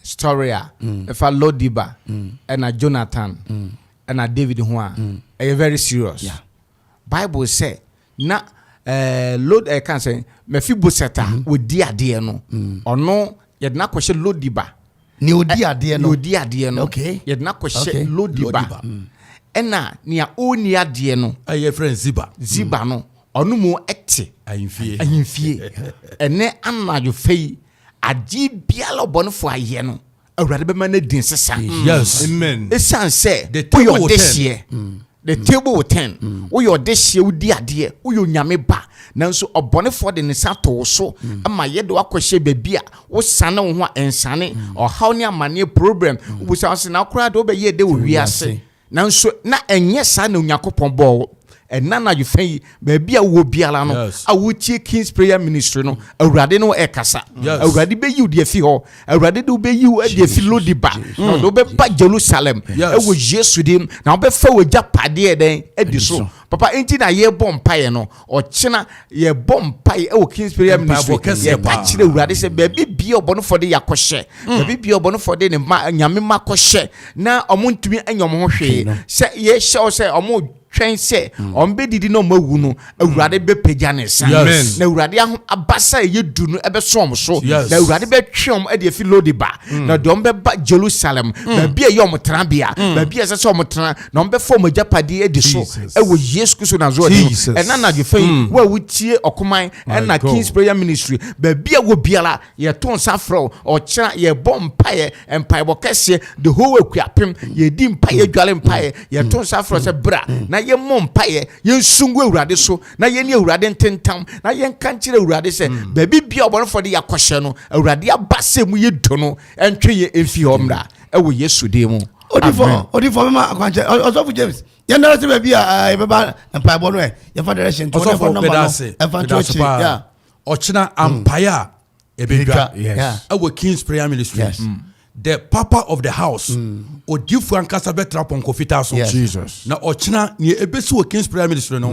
story a ɛfa lodiba ɛna jonathan ɛna david ho a ɛyɛ very serious. Yeah. Bible sɛ na eh, Lod eh, kan sɛ Mephiboset a mm-hmm. wɔdi adeɛ no mm. ɔno yɛde no akɔhyɛ Lodiba ne ɔdi eh, adeɛ no ɔdi adeɛ no yɛde no akɔhyɛ Lodiba mm. ɛna nea ɔnni adeɛ no ɛyɛ frɛ Ziba Ziba no ɔno mu ɛte ahemfie ahemfie ɛnɛ anadwo fɛ yi adeɛ biara ɔbɔnefo ayɛ no awurade bɛma no din sesa ɛsiane sɛ woyɛ ɔdehyeɛ mm. the mm. table will turn mm. woyɛ ɔdehyeɛ wodi adeɛ woyɛ onyame ba nanso ɔbɔnefoɔ de ne sa to wo so ma yɛde wakɔhyɛ baabi a wosane wo ho a ɛnsane ɔhaw ne amanneɛ problem wobusa wo se na koraa de wobɛyɛ dɛ wɔ wiase Nanso na ɛnyɛ saa na Onyankopɔn bɔɔ wo. Ɛnnɛ anadwo fã yi, baabi a wowɔ biara no, a wotie King's Prayer Ministry no, Awurade ne wo ɛkasa. Awurade bɛyi wo de afi hɔ. Awurade de wobɛyi wo de afi Lodi ba, na ɔde wobɛba Jerusalem ɛwɔ Yesu din, na wobɛfa w'agyapadeɛ dɛn adi so. Papa, enti na yɛrebɔ mpaeɛ no, Ɔkyena, yɛbɔ mpae wɔ King's Prayer Ministry. Yɛka kyerɛ Awurade sɛ baabi bia ɔbɔnefoɔ de yɛakɔhyɛ, mm. baabi bia ɔbɔnefoɔ de ne ma nyame ma kɔhyɛ na ɔmo ntumi anya ɔmo ho hwee. Sɛ yɛhyɛ wo sɛ ɔmo twɛn sɛ mm. ɔmo bɛdidi na ɔmo awu no, Awurade mm. bɛpagya ne nsa. Na Awurade aho abasa a ɛyɛ du no ɛbɛso ɔmo so. Na Awurade bɛtwe ɔmo de afi Lodiba. Na deɛ ɔmo bɛba Jerusalem, baabi a ɛyɛ ɔmo tenabea, baabi a ɛsɛ sɛ ɔmo tena, na wɔbɛfa wɔn agyapadeɛ adi so wɔ yesu kristo nazareth mu ɛna anadwo fɛ yi hmm. wo a wotie ɔkoman ɛna kings prayer ministry baabi a wɔ biara yɛto nsa frɛ wo ɔkyena yɛbɔ mpaeɛ mpaebɔ kɛseɛ the whole akuapem yɛdi mpaeɛ dwale mpaeɛ yɛto nsa frɛ sɛ bra na yɛmmɔ mpaeɛ yɛnsungu awurade so na yɛne awurade ntentam na yɛnka nkyerɛ awurade sɛ hmm. baabi bia ɔbɔnefoɔ de yɛakɔhyɛ no awurade aba sɛ mu yɛ dɔ no ɛntwe yɛ ɛmfi hɔ mmra ɛwɔ yesu din mu odifo odifo bɛma akwankyɛ ɔsɔfo james yɛn dara se baabi a eh, yɛbɛba mpaebɔ no ɛ eh, yɛfa direction ɔsɔfo bɛda ase bɛda ase paa ɔkyena mm. ampae a ɛbɛdwa ɛwɔ kings prayer ministry yes. mm. the papa of the house mm. odifo ankasa bɛtra pɔnkɔ fitaa so yes. na ɔkyena nea ɛbɛsi wɔ kings prayer ministry no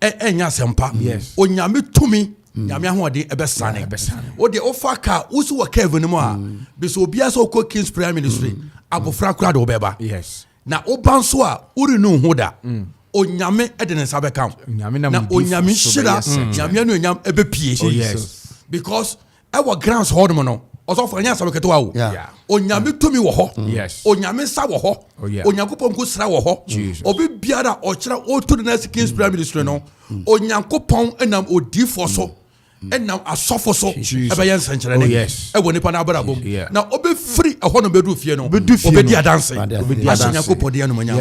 ɛnyɛ mm. asɛmpa onyame tumi Mm. nyame ahoɔden ɛbɛsane wodeɛ wofa ka wosi wɔ curve no mu a mm. bisɛ obiaa sɛ wokɔ kings prayer ministry mm. abofra kora de wobɛba na woba nso a worenu ho da onyame de ne nsa bɛka wo na onyame nhyira nyame anuonyam ɛbɛpie oh, because ɛwɔ grants hɔ nom no ɔsɔfo ɛnyɛ asɛm ketewa o onyame tumi wɔ hɔ mm. onyame nsa wɔ hɔ oh, onyankopɔn nko sra wɔ hɔ obi biara ɔkyerɛ ɔtu ne nasi kings prayer ministry no Onyankopɔn nam odiifoɔ so nam asɔfo so ɛbɛyɛ nsɛnkyerɛnne oh, ɛwɔ nipa n'abrabɔ mu na ɔbɛfiri ɛhɔ no bɛdu fie no ɔbɛdi adanse ahyɛ nyankopɔn deɛ nomanya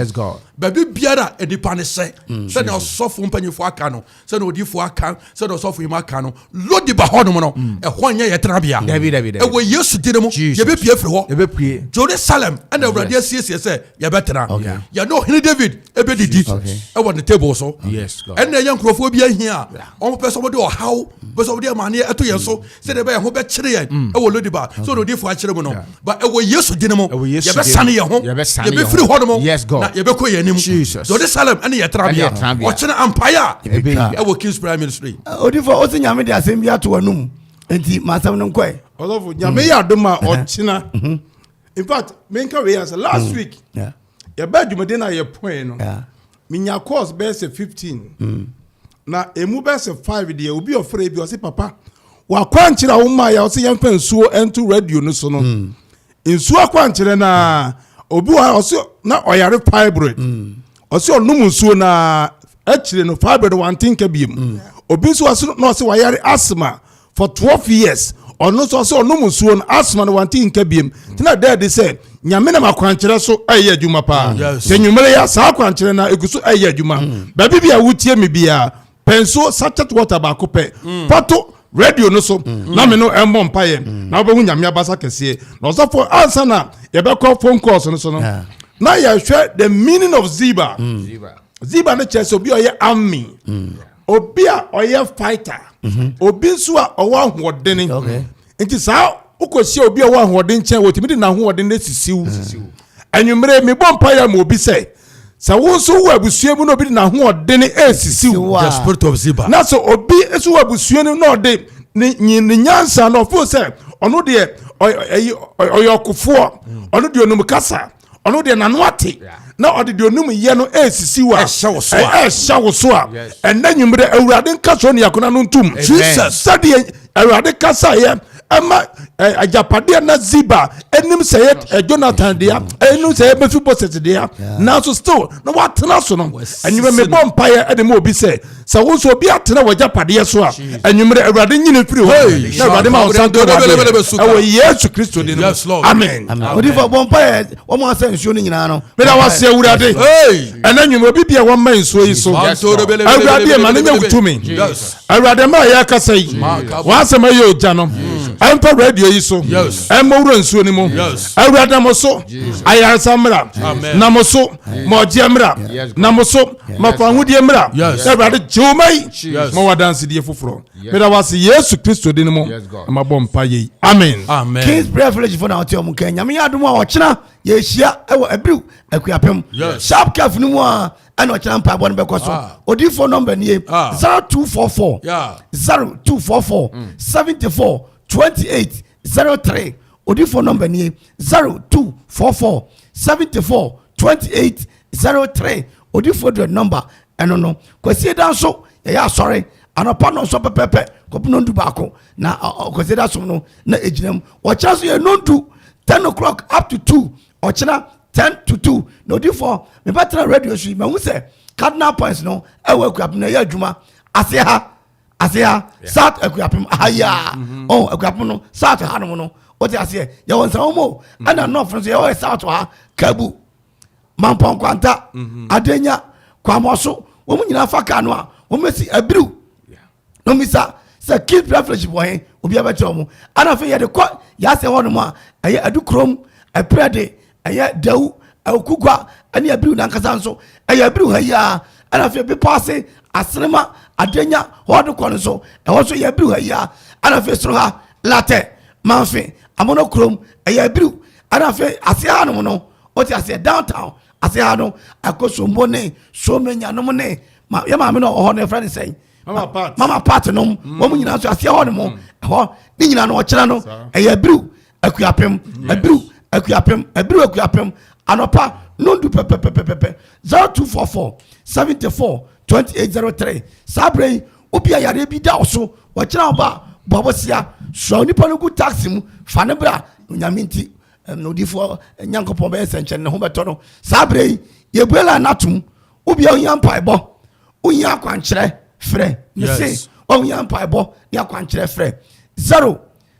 baabi biara nipa ne sɛ mm, sɛdeɛ ɔsɔfo mpanyinfoɔ aka no sɛdeɛ odiifoɔ aka sɛdeɛ ɔsɔfo yi mu aka no lodi ba hɔnom no mm. ɛhɔ nyɛ yɛ tenabea ɛwɔ yesu din mu yɛbɛpue firi hɔ jerusalem ɛna awurade asiesie sɛ yɛbɛtena yɛne ɔhene david ɛbɛdidi ɛwɔ ne table so ɛnna ɛyɛ nkurɔfoɔ bi ahia a wɔpɛ sɛ wɔde ɔhaw pɛ sɛ wɔde amaneɛ ɛto yɛn so mm. sɛdeɛ ɛbɛyɛ ho bɛkyere yɛn mm. ɛwɔ lodiba sɛ ɔde odifoɔ akyerɛ mu no But ɛwɔ Yesu din mu. Ɛwɔ Yesu din mu. Yɛbɛsane yɛn ho. Yɛbɛsane yɛn ho. Yɛbɛfiri hɔ nom. Yes God. Na yɛbɛkɔ yɛn anim. Jesus. Dɔde Salem ɛne yɛ tena bea. Ɛne yɛ tena bea. Ɔkyena ampaeɛ a. Ɛbɛtwa. Ɛwɔ King's Prayer Ministry. Odifo ɔsi nyame de asɛm bi ato anum nti ma asɛm no nkɔɛ. Ɔlɔfo nyame yɛ adom a ɔkyena. In fact menka wei asɛ last week yɛbɛ adwumaden a yɛpɔn no. Minya course bɛyɛ sɛ fifteen. Na emu bɛyɛ sɛ five deɛ obi ɔfrɛ ebi ɔsi papa wakwankyerɛ a wɔmaa yɛ ɔsi yɛnfa nsuo ɛnto radio no so no hmm. nsuo akwankyerɛ naa hmm. obi wɔ ha ɔsi na ɔyare fibroid hmm. ɔsi ɔnom nsuo naa akyire no fibroid wante nka biem obi nso ɔsi na ɔsi wayare asthma. for twelve years ɔno nso ɔsɛ ɔnom nsuo no asoma no wante nka biem nti na dɛ de sɛ nyame nam akwankyerɛ so ɛyɛ adwuma paa mm. sɛ nwumere ya saa akwankyerɛ no ɛgu so ɛyɛ adwuma mm. baabi bi a wotie me biara pɛ nsuo sachet water baako pɛ mm. fato radio no so na me no ɛmmɔ mpayɛ na wobɛhu nyame abasa kɛseɛ na ɔsɔfoɔ ansa na yɛbɛkɔ phone calls no so no na yɛhwɛ the meaning of ziba ziba no kyerɛ sɛ obi ɔyɛ ami obi a ɔyɛ fighter mhm. obi nso a ɔwɔ ahoɔden nti saa wokɔhyia obi a ɔwɔ ahoɔden kyɛn wɔtumi de n'ahoɔden no asisiw anwummerɛ mebɔ mpa yɛ ma obi sɛ sɛ wo nso wowɔ abusua mu na obi de n'ahoɔden asisiw na sɛ obi nso wɔ abusua no na ɔde ne nyansa na ɔfo sɛ ɔno deɛ ɔyɛ ɔkofoɔ ɔno deɛ ɔnum kasa ɔno deɛ n'ano ate na ɔde deɛ onum yɛ no ɛresisi wa ɛhyɛ wo so a ɛhyɛ wo so a ɛnna nyimire awurade nka so niakona no ntum jesus sɛdeɛ awurade kasa yɛ ɛma agyapadeɛ na ziba ɛnim sɛ yɛ jonathan deɛ ɛnim sɛ yɛ bɛfi bɔsɛt deɛ nanso still na watena so no ɛnyimire mebɔ mpaeɛ ɛde ma obi sɛ sɛ wo nso obi atena w'agyapadeɛ so a anwummerɛ awurade nyine firi hɔ na awurade ma wo san to wadeɛ ɛwɔ yesu kristo din mu amen odifa bɔ mpa yɛ wɔn asɛ nsuo no nyinaa no meda wase awurade ɛna nwummerɛ obi bia wɔmma nsuo yi so awurade ma no nya wotumi awurade ma yɛ akasa yi wɔasɛm ayɛ ogya no ɛmfa radio yi so ɛmmɔ wura nsuo no mu awurade na mo so ayaresa mmra na mo so ma ɔgyeɛ mmra na mo so ma fa ahodie mmra sɛ awurade gye wo ma yi ma wadansedie foforɔ meda wase yesu kristo din mu na mabɔ mpa yei amen kings prayer village fo na ɔte ɔmo nka nyame yɛ adom a ɔkyena yɛhyia ɛwɔ abiriw akuapem sharp caf no mu a ɛna ɔkyena mpaebɔ no bɛkɔ so ah. odiifoɔ nɔmba nie 0244 0244 74 28 zero three odi phone number nie zero two four four seventy four twenty eight zero three odi phone direct number ɛno no kwasi da nso yɛyɛ asɔre anɔpa no nso pɛpɛpɛ kɔpem nondu baako na kwasi da som no na egyina mu ɔkyerɛ so yɛ nondu ten o'clock up to two ɔkyerɛ ten to two na odi fɔ mebɛtena radio so yi mahu sɛ cardinal points no ɛwɔ akuapem na ɛyɛ adwuma ase ha ase ha south akuapem ha yi a mm-hmm. ɔn oh, akuapem no south ha nom no o ti aseɛ yɛ wɔ nsa wɔn o mm-hmm. ɛna north no so yɛ wɔ south ha kabu mampɔnkwanta mm-hmm. adenya kwamɔso wɔn nyinaa fa kaa no a wɔn bɛ si abiriw na wɔn bisa sɛ kid privilege wɔ he obi abɛkyerɛ wɔn ɛna afei yɛde kɔ yaase hɔ nom a ɛyɛ adu kurom ɛpɛrɛ de ɛyɛ dawu awukugua ɛne abiriw nankasa nso ɛyɛ abiriw ha yiaa ɛna afei bepɔ ase asenema adenya hɔɔde kɔ no nso ɛhɔ nso ɛyɛ abiriw ha yiaa ɛna afei soro ha latɛ manfe amono kurom ɛyɛ abiriw ɛna afei ase ha nom no wote aseɛ downtown ase ha no ɛkɔ sombo ne somenya nom ne ma yɛ maame no ɔhɔ no ɛfrɛ ne sɛn mama part mama part nom mm. wɔn nyinaa nso aseɛ hɔ nom mm. ɛhɔ ne nyinaa no ɔkyerɛ no ɛyɛ abiriw akuapem abiru akuapem abiru akuapem anɔpa nondu pɛpɛpɛpɛpɛ zero two four four seventy four twenty eight zero three saa abirɛ yi obi a yareɛ bi da ɔso wɔkyerɛ ɔba bɔbɔsia sua onipa no gu taxi mu fa ne bra onyame nti na odifoɔ nyankopɔn bɛyɛ sɛnkyɛn ne ho bɛtɔ no saa abirɛ yi yɛbue la no atom obi a ohia mpaebɔ ohia akwankyerɛ frɛ ne se ohia mpaebɔ ne akwankyerɛ frɛ zero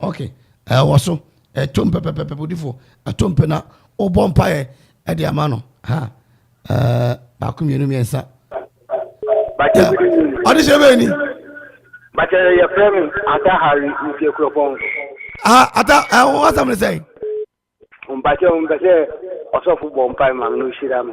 okay ɛwɔ so ɛto mpɛ pɛpɛpɛ bodifoɔ ɛto mpɛ na wobɔ mpaeɛ ɛde ama no ha ɛɛ baako mmienu mmiɛnsa ɔde hyɛ bɛyɛ ni. bàtà yɛ fẹ́ mi ata hari nti ekura pɔn. ah ata ẹ wọ́n wá sàmìlì sẹ́yìn. mpàtẹ́ wọn bẹ sẹ́ ọ̀sọ́fù bọ̀ mpa ẹ̀ màmí ní ó ṣíra mi.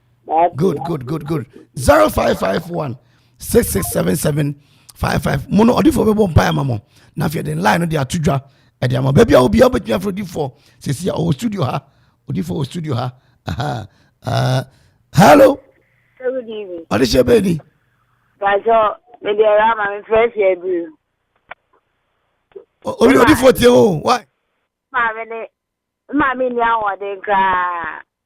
good good good good zero five five one six six seven seven five five mo no ɔdifo bɛbɔ mpa ama mo na afei ɛde line no de ato dwa ɛde ama baabi a obiara wobɛtumi afrɛ odifoɔ sɛsi a ɔwɔ studio ha odifoɔ wɔ studio ha aha uh, hello good evening ɔde hyɛ bɛɛ ni bàjọ́ mede ẹ̀rọ ama mi fẹ́ fi ẹ̀bìrì. orí odifoɔ tie o why. maame ne maame ni ahoɔden koraa.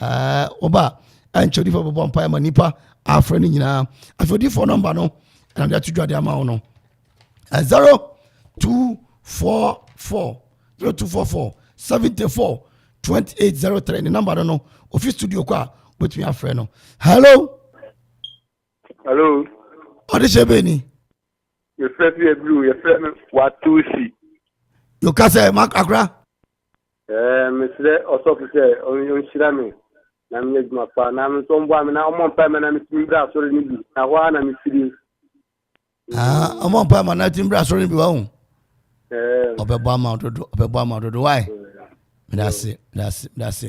ɛɛ ɔba a ɛnkyɛ odiifoɔ bɛbɔ mpaeɛ ma nipa afrɛ no nyinaa afei odiifoɔ nɔmba no ɛna de ato dwa de ama wo no zero two four four zero two four four seventy four twenty eight zero three ne nɔmba no no ofi studio kɔ a wobɛtumi afrɛ no hello hello ɔde hyɛ bɛɛ ni yɛfrɛ fi abiriw yɛfrɛ no watusi yɛka sɛ akora Ɛɛ mesrɛ ɔsɔfo sɛ ɔnhyira me na menyɛ adwuma pa na me nso ɔmboa me na ɔmmɔ mpae ma na metumi mbra asɔre no bi na hɔ ara na mefiri. Ah, ɔmɔ mpa ma na ti mbra sɔrɔ ni bi wa hu. Ɔbɛbɔ ama dodo, ɔbɛbɔ ama dodo. Why? Medase, medase, medase.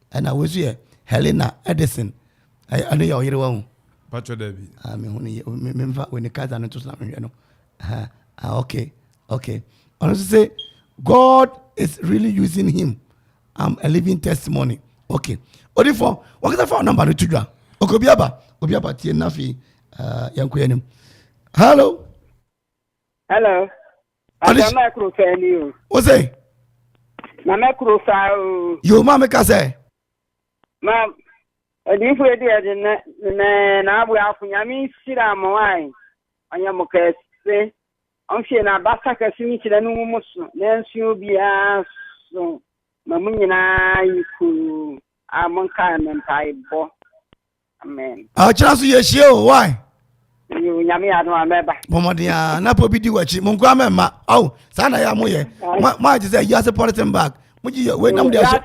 Ɛna wei nso yɛ Helena Edison. Ɛno yɛ ɔyere wahu. Patro Dabi. Ah, me hu ne me me fa when Kaiser no to so na me hwɛ no. Ah, ah, okay. Okay. Ɔno nso say God is really using him. I'm a living testimony. Okay. Odifo, wakasa fa number no to dwa. Okay, obi aba. Obi aba tie na fi uh, eh, yankɔ anim. Hello. Hello. Ada na ɛkoro saa ni o. O sɛ. Na na ɛkoro saa o. Yoo maa mi ka sɛ. Ma odiifo edi ɛdi nɛ nɛ n'abo afo nyame nhyira mo ayi ɔnyɛ mo kɛse ɔnhwɛ na abasa kɛse ne nhyira no ngu mo so na nso obiara so ma mo nyinaa yi kuu a mo nkae me mpaebɔ. amen ɔkyena so yɛhyia o why nyame ano a mɛba bɔmmɔden a na pɔ bi di wakyi mo nkoa mɛmma ao saa na yɛ a moyɛ moagye sɛ wiase pɔleten bag mogye yɛ wei nam de aso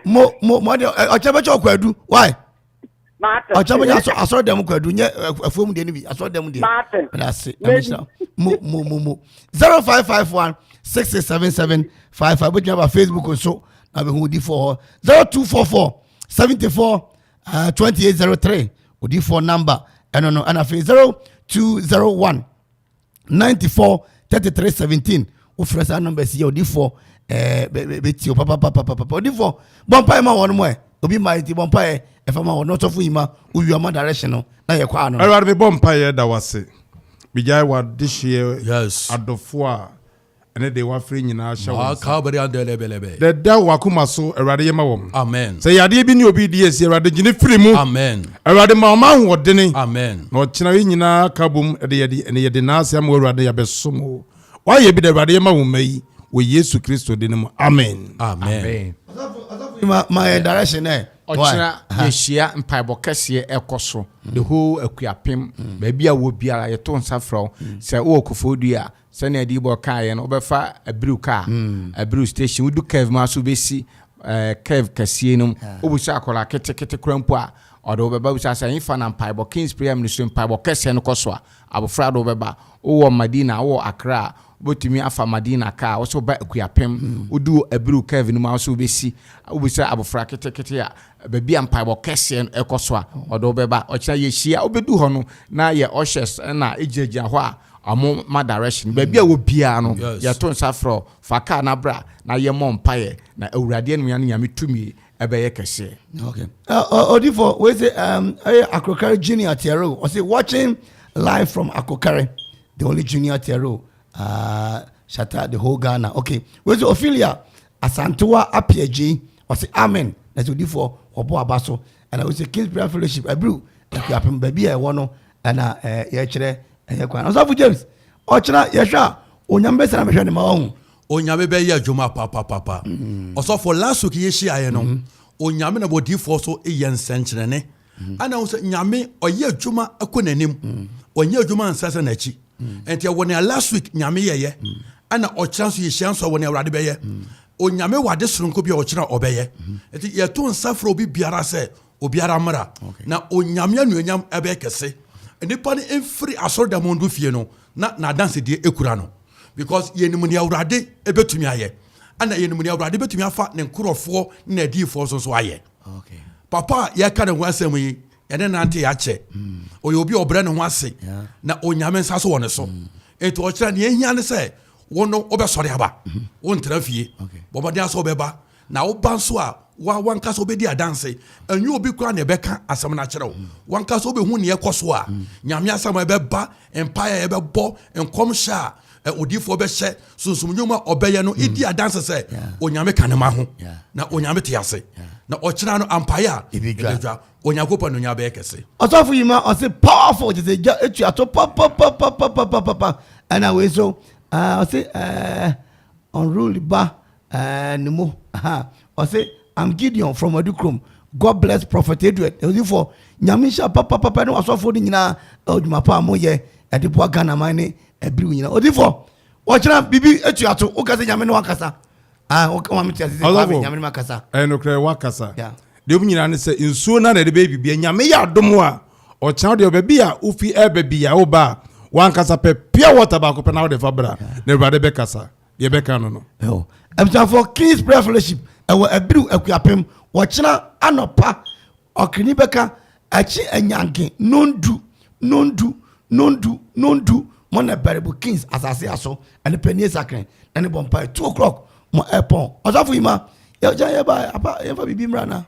mo mo mɔde ɔkyena bɛkyɛ ɔkɔ adu why ɔkyena bɛnya asɔ asɔre dɛm kɔ adu nyɛ afuo mu deɛ no bi asɔre dɛm deɛ ɛna ase ɛna hyira mo mo mo mo zero five five one six six seven seven five five bɛtumi aba facebook nso na bɛhu di fɔ hɔ zero two four four seventy four eh, twenty eight zero three odiifoɔ number ɛno no ɛna afei zero two zero one ninety four thirty three seventeen wofrɛ saa number si yɛ odiifoɔ ɛɛ eh, bɛti o papapapapapa odiifoɔ bɔmpae ma wɔn mo ɛ obi ma eti bɔmpae ɛfa ma wɔn n'ɔsɔfo yi ma owi ɔma direction no na yɛ kɔ ano. ɛwɛrɛ mi bɔmpae yɛ da wase bigyae wa dehyeɛ adɔfo a ɛne deɛ wafrɛ nyinaa hyɛ wɔn nsa. Dɛdɛ wakoma so, Awurade yɛ ma wɔn. Amen. Sɛ yadeɛ bi ne obi di asi, Awurade gyine firi mu. Amen. Awurade ma wɔn ahoɔdene. Amen. Na ɔkyena yi nyinaa ka bom de yɛde ɛne yɛde n'ase ama Awurade yɛabɛsom o. Wayɛ bi da Awurade yɛ ma wɔn mma yi wɔ Yesu Kristo din mu. Amen. Amen. Ma yɛ direction ɛ. Ɔkyena yɛhyia mpaebɔ kɛseɛ ɛkɔ so the whole akuapem baabi a wɔ biara yɛto nsa frɛ wo sɛ wowɔ kofodua a Sɛnea adiyibɔ kaeɛ no, wobɛfa abiru kaa, abiru station, wodu curve mu aso wobɛsi curve kɛseɛ no mu, wobisa akwadaa ketekete koraa mpo a, ɔde wo bɛba, wobisa sɛ ɛhefa na mpaebɔ, King's Prayer Ministry mpaebɔ kɛseɛ no kɔ so a, abɔfra de wo bɛba. Wowɔ Madina, wowɔ Accra a, wobɛtumi afa Madina kaa, wo sɛ woba Akuapem, wodu abiru curve no mu aso wobɛsi, wobisa abɔfra ketekete a, baabi a mpaebɔ kɛseɛ no kɔ so a, ɔde wo bɛba. Ɔkyena yɛhyia, wobɛdu hɔ no, na yɛ ushers na ɛgyinagyina hɔ a, Ɔmo ma direction baabi a wɔ biara no yɛto nsa frɛ wo fa car na bra na yɛ mɔ mpaeɛ na awurade anunya no nyame tumi ɛbɛyɛ kɛseɛ. Okay. Uh, Odifo, we say um Akrokare Junior Tiaro. I say watching live from Akrokare. The only Junior Tiaro. Uh, shout out the whole Ghana. Okay. We say Ophelia Asantewa Apiaji. I say Amen. That's Odifo Obo Abaso. ɛna wosɛ kings prayer fellowship ɛbiriw nkuapem baabi a ɛwɔ no ɛna ɛɛ yɛkyerɛ ɛyɛ kwan ɔsɔfo james ɔkyerɛ yɛhwɛ a onyame bɛsɛn abɛhwɛ ne ma ɔho onyame bɛyɛ adwuma papapapa mm. ɔsɔfo last week yɛhyiaeɛ no mm-hmm. onyame na bɔdifoɔ so yɛ nsɛnkyerɛne mm-hmm. ana wo sɛ nyame ɔyɛ adwuma ɛkɔ n'anim mm. ɔnyɛ adwuma nsɛsɛ n'akyi ɛnti ɛwɔ nea last week nyame yɛyɛ ɛna ɔkyerɛ nso yɛhyia nso ɛwɔ nea awurade bɛyɛ onyame wɔ ade soronko bi a ɔkyerɛ ɔbɛyɛ ɛnti yɛto nsa frɛ obi biara sɛ obiara mmra na onyame anuonyam ɛbɛyɛ kɛse nnipa no mfiri asɔredan mu ndo fie no na n'adansedie ekura no because yɛnim nea awurade ebɛtumi ayɛ ɛna yɛnim nea awurade bɛtumi afa ne nkorɔfoɔ ne n'adiyifoɔ nso so ayɛ papa a yɛka ne ho asɛm yi ɛne nante akyɛ ɔyɛ obi a ɔbrɛ ne ho ase na onyame nsa so wɔ ne so mm. nti ɔkyerɛ nea ɛhia ne sɛ wo no wobɛsɔre aba mm-hmm. wontena fie bɔmmɔden asɛ wobɛba na woba nso a wa wanka sɛ wobɛdi adanse ɛnyɛ obi koraa na ɛbɛka asɛm no akyerɛ wo mm. wanka sɛ wobɛhu neɛ ɛkɔ so a mm. nyame asɛm a ɛbɛba Mpae a yɛbɛbɔ, nkɔmhyɛ a odiifoɔ bɛhyɛ, sunsum nnwuma a ɔbɛyɛ no di adanse sɛ Onyame ka ne ma ho na Onyame te ase na ɔkyena no ampae a ɛbɛdwa Onyankopɔn no nya bɛyɛ kɛse. Ɔsɔfo yi ma ɔse powerful te sɛ gya etu ato papapapapapapa ɛna wei so ɔse ɛɛ unruly ba Ɛɛn ne mo ha ɔse I'm Gideon from Adukrom God bless Prophet Edward Odifoɔ Nyame nhyira papapapa ne wasɔfoɔ no nyinaa ɛwɔ dwuma pa a moyɛ ɛde boa Ghana man ne ɛbiriw nyinaa Odifoɔ wɔkyena biribi atu ato woka sɛ Nyame ne wakasa ah woka ma mete ase sɛ Ɔsɔfo Nyame ne makasa ɛyɛ nokorɛ wakasa yeah. deɛ ɔmu nyinaa ne sɛ nsuo no na ɛde bɛyɛ biribi Nyame yɛ adom a ɔkyena deɛ ɔbɛbi a wofi ɛbɛ bi a woba a wankasa pɛ pure water baako pɛ na wode fa bra na awurade bɛkasa deɛ ɛbɛka no no. Abusuafoɔ King's Prayer Fellowship ɛwɔ Abiru Akuapem wɔkyena anɔpa ɔkani bɛka akyi anyanke nondu nondu nondu nondu mo na baribu Kings asase aso ɛne panie sakren ɛne bɔ mpae two o'clock mo ɛpɔn ɔsɔfo yi ma yɛgya yɛba apa yɛmfa biribi mmra na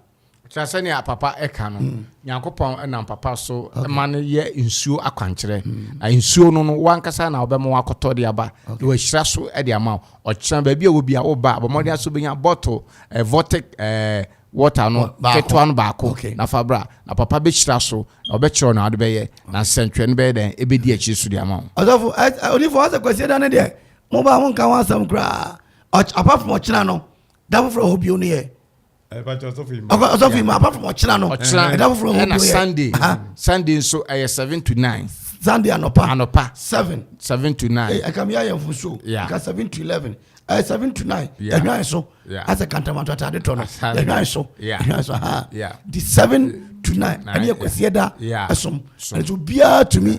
kyerɛ sɛnea papa ɛka no hmm. nyankopɔn ɛnam papa so ma no yɛ nsuo akwankyerɛ hmm. na nsuo no no wankasa na wobɛma wakɔtɔ de aba na wahyira so de ama ɔkyerɛ baabi a wɔbi a woba a bɔmmɔden aso bɛnya bɔto eh, votic eh, water no ketewa no baako na fa bra na papa bɛhyira so na ɔbɛkyerɛ na wode bɛyɛ na nsɛntwerɛ no bɛyɛ dɛn ɛbɛdi akyiri so de ama wo ɔsɔfo onifoɔ asɛ kwasie da no deɛ mobaa monka ho asɛm koraa apart from ɔkyena no da foforɔ hɔ bio no yɛ ɔsɔfo yi mu apart from ɔkyena no ɛda foforɔ ɛna sunday sunday nso ɛyɛ seven to nine sunday anɔpa anɔpa seven seven to nine ɛka mi ayɛ nfun so ɛka seven to eleven ɛyɛ seven to nine ɛhwan so asɛ kantamanto atade tɔ no ɛhwan so ɛhwan so ha di seven to nine ɛne ɛkwasiɛ da ɛsom ɛnso biara tumi.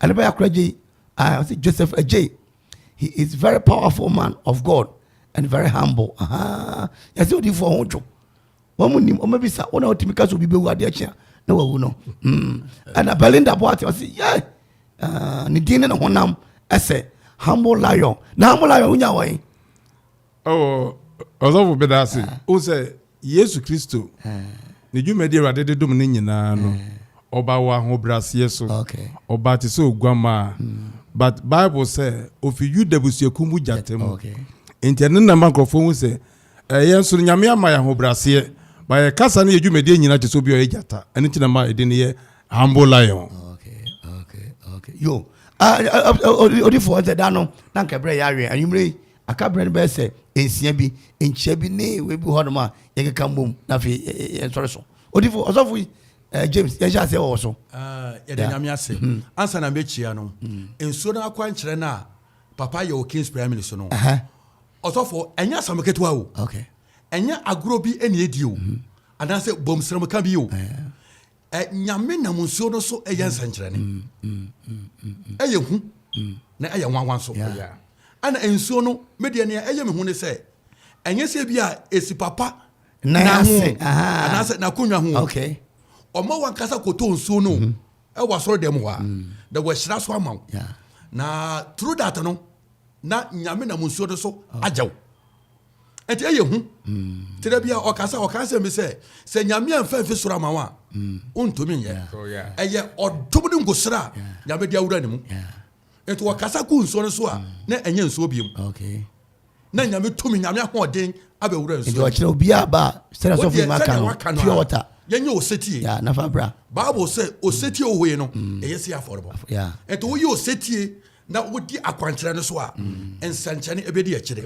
Adebaya Kura Jay, uh, was it Joseph Ajay? He is very powerful man of God and very humble. Aha, yɛsɛ odifo ɔho dwo. Wɔn mu nim, wɔn abisa, wɔn a wɔtumi ka so obi bɛwu adeɛ kyea na wawu no. Mm. Ɛna Belinda Boate ɔsi, yɛ, uh, ne din ne ne honam ɛsɛ humble lion. Na humble lion wonya wɔn. Oh, Ɔsɔfo Bedase, wohu sɛ Yesu Kristo Ne dwumadi a Awurade de dom no nyinaa no, Ɔbaa wɔ ahobrɛaseɛ so. Ɔbaa te sɛ oguammaa. But Bible sɛ, Ɔfiri Yuda abusuakuo mu gyata mu. Enti ɛno na ɛma nkorɔfoɔ hu sɛ, eh, yɛn nso no, Nyame ama yɛn ahobrɛaseɛ. But yɛn kasa ne yɛn dwumadie nyinaa te sɛ obi a ɔyɛ gyata. Ɛno nti na ɛma ɛdin no yɛ Humble Lion. Yo, ah, ah, ah, oh, oh, odifoɔ, ɔsɛ da no, na nka ɛberɛ yɛ awe, anwummere yi, Aka berɛ no bɛyɛ sɛ nsia bi, nkyia bi ne wei bi hɔ nom a yɛkeka mbom na afei yɛnsɔre so. Odifo, ɔsɔfo yi, eh, James, yɛnhyɛ aseɛ wɔ wɔ so. Ah, yɛda yeah. Nyame ase. Hmm. Ansa na mɛkyia no, hmm. nsuo no akwankyerɛ no a papa yɛ wɔ Kings Primary so no, ɔsɔfo, ɛnyɛ asɛm ketewa o. Okay. Ɛnyɛ agorɔ bi ɛne ɛdi o. Hmm. Anaasɛ bɔmsrɛmka bi o. Nyame nam nsuo no so yɛ nsɛnkyerɛnne. Mm, mm, mm, ɛyɛ hu na ɛyɛ nwanwa nso. Ɛna nsuo no medeɛ nea ɛyɛ me hu ne sɛ ɛnyɛ sɛ bi a ɛsi papa na ho anaasɛ n'akonnwa ho. Ɔma wankasa kɔtɔ nsuo no mhm. ɛwɔ asɔre dɛm hɔ a na wɔahyira so ama wo. Na through that no na nyame nam nsuo no so agya wo. ɛnti ɛyɛ hu nti dɛ bia ɔkasa ɔka sɛ bi sɛ sɛ nyame amfa mfi soro ama wo a wontumi nyɛ ɛyɛ ɔdom ne nkosra a nyame de awura ne mu nti wɔkasa gu nsuo no so a na ɛnyɛ nsuo biom na nyame tumi nyame ahoɔden abɛwura nsuo ɔkyerɛ obiaa ba a sɛdɛ sɔfo ma ka no pure water yɛnyɛ osetie nafa bra bible sɛ osetie wohoe no ɛyɛ sɛ afɔrebɔ ɛnti woyɛ osetie na wodi akwankyerɛ no so a mm. nsɛnkyerɛnne ɛbɛdi akyire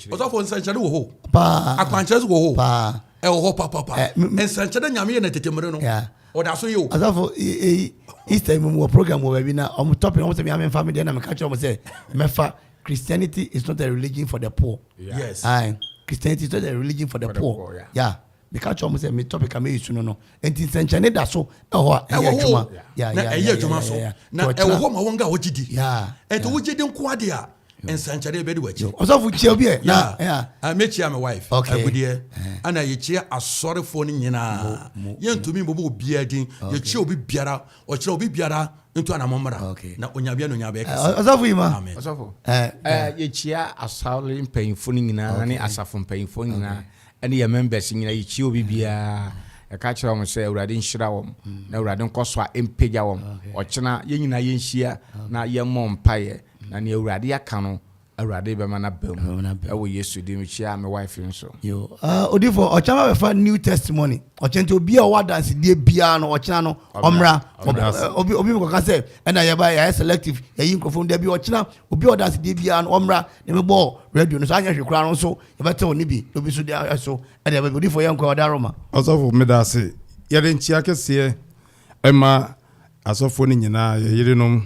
ɔsɔfo nsɛnkyerɛnne wɔ hɔ akwankyerɛ so wɔ hɔ ɛwɔ hɔ papapa eh, nsɛnkyerɛnne nyame yɛ na tete mmere no ɔda so yi o. asafo easter mu wɔ program wɔ baabi na ɔmo tɔpi na ɔmo sɛ mi ame nfa mi deɛ na mi ka kyerɛ ɔmo sɛ mɛfa christianity is not a religion for the poor. yes ayi christianity is not a religion for the, for the poor. poor yeah. yeah. Meka kyerɛɛ wɔn sɛ me topic a mɛyɛ su no no, nti nsɛnkyerɛnne da so ɛhɔ a ɛyɛ adwuma. Na ɛyɛ adwuma so. Na ɛwɔ hɔ ma wɔn a wɔgye di. Ɛnti wogye di nko ade a, nsɛnkyerɛnne bɛdi w'akyi. Ɔsɔfo kyia obi ɛ. Na mekyia me wife. Agudeɛ. Ana yɛkyia asɔrefoɔ no nyinaa. Yɛntumi mbobɔ obiara din. Yɛkyia obi biara. Ɔkyerɛ obi biara ntu anamɔ mmra. Na Onyame anuonyam bɛyɛ kɛse. Ɔsɔfo yi ma. Ɔsɔfo. Yɛkyia asɔre mpanyinfoɔ no nyinaa ne asafo mpanyinfoɔ nyinaa. ɛne yɛn members nyina yɛkyia obi biaa yɛka kyerɛ wɔn sɛ awurade nhyira wɔn na awurade nkɔso a ɛmpagya wɔn ɔkyena yɛn nyinaa yɛnhyia na yɛmmɔ mpaeɛ na nea awurade aka no awurade bɛma no aba mu ɛwɔ yesu din mekyia me wife nso odifo ɔkyena ma bɛfa new testimony ɔkyena nti obi a ɔwɔ adansedie biara no ɔkyena no ɔmmra obi obi mekɔka sɛ ɛna yɛba yɛayɛ selective yɛyi nkurɔfoɔ no da bi ɔkyena obi a ɔdansedie biara no ɔmmra na mebɔ radio no so anyɛ hwe koraa no nso Yɛbɛtew ne bi, na obi nso de ayɛ so de aba bi. Odiyifo yɛ nkoa, ɔde aroma. Ɔsɔfo, meda ase. Yɛde nkyia kɛseɛ ma asɔfoɔ no nyinaa, yɛn yerenom,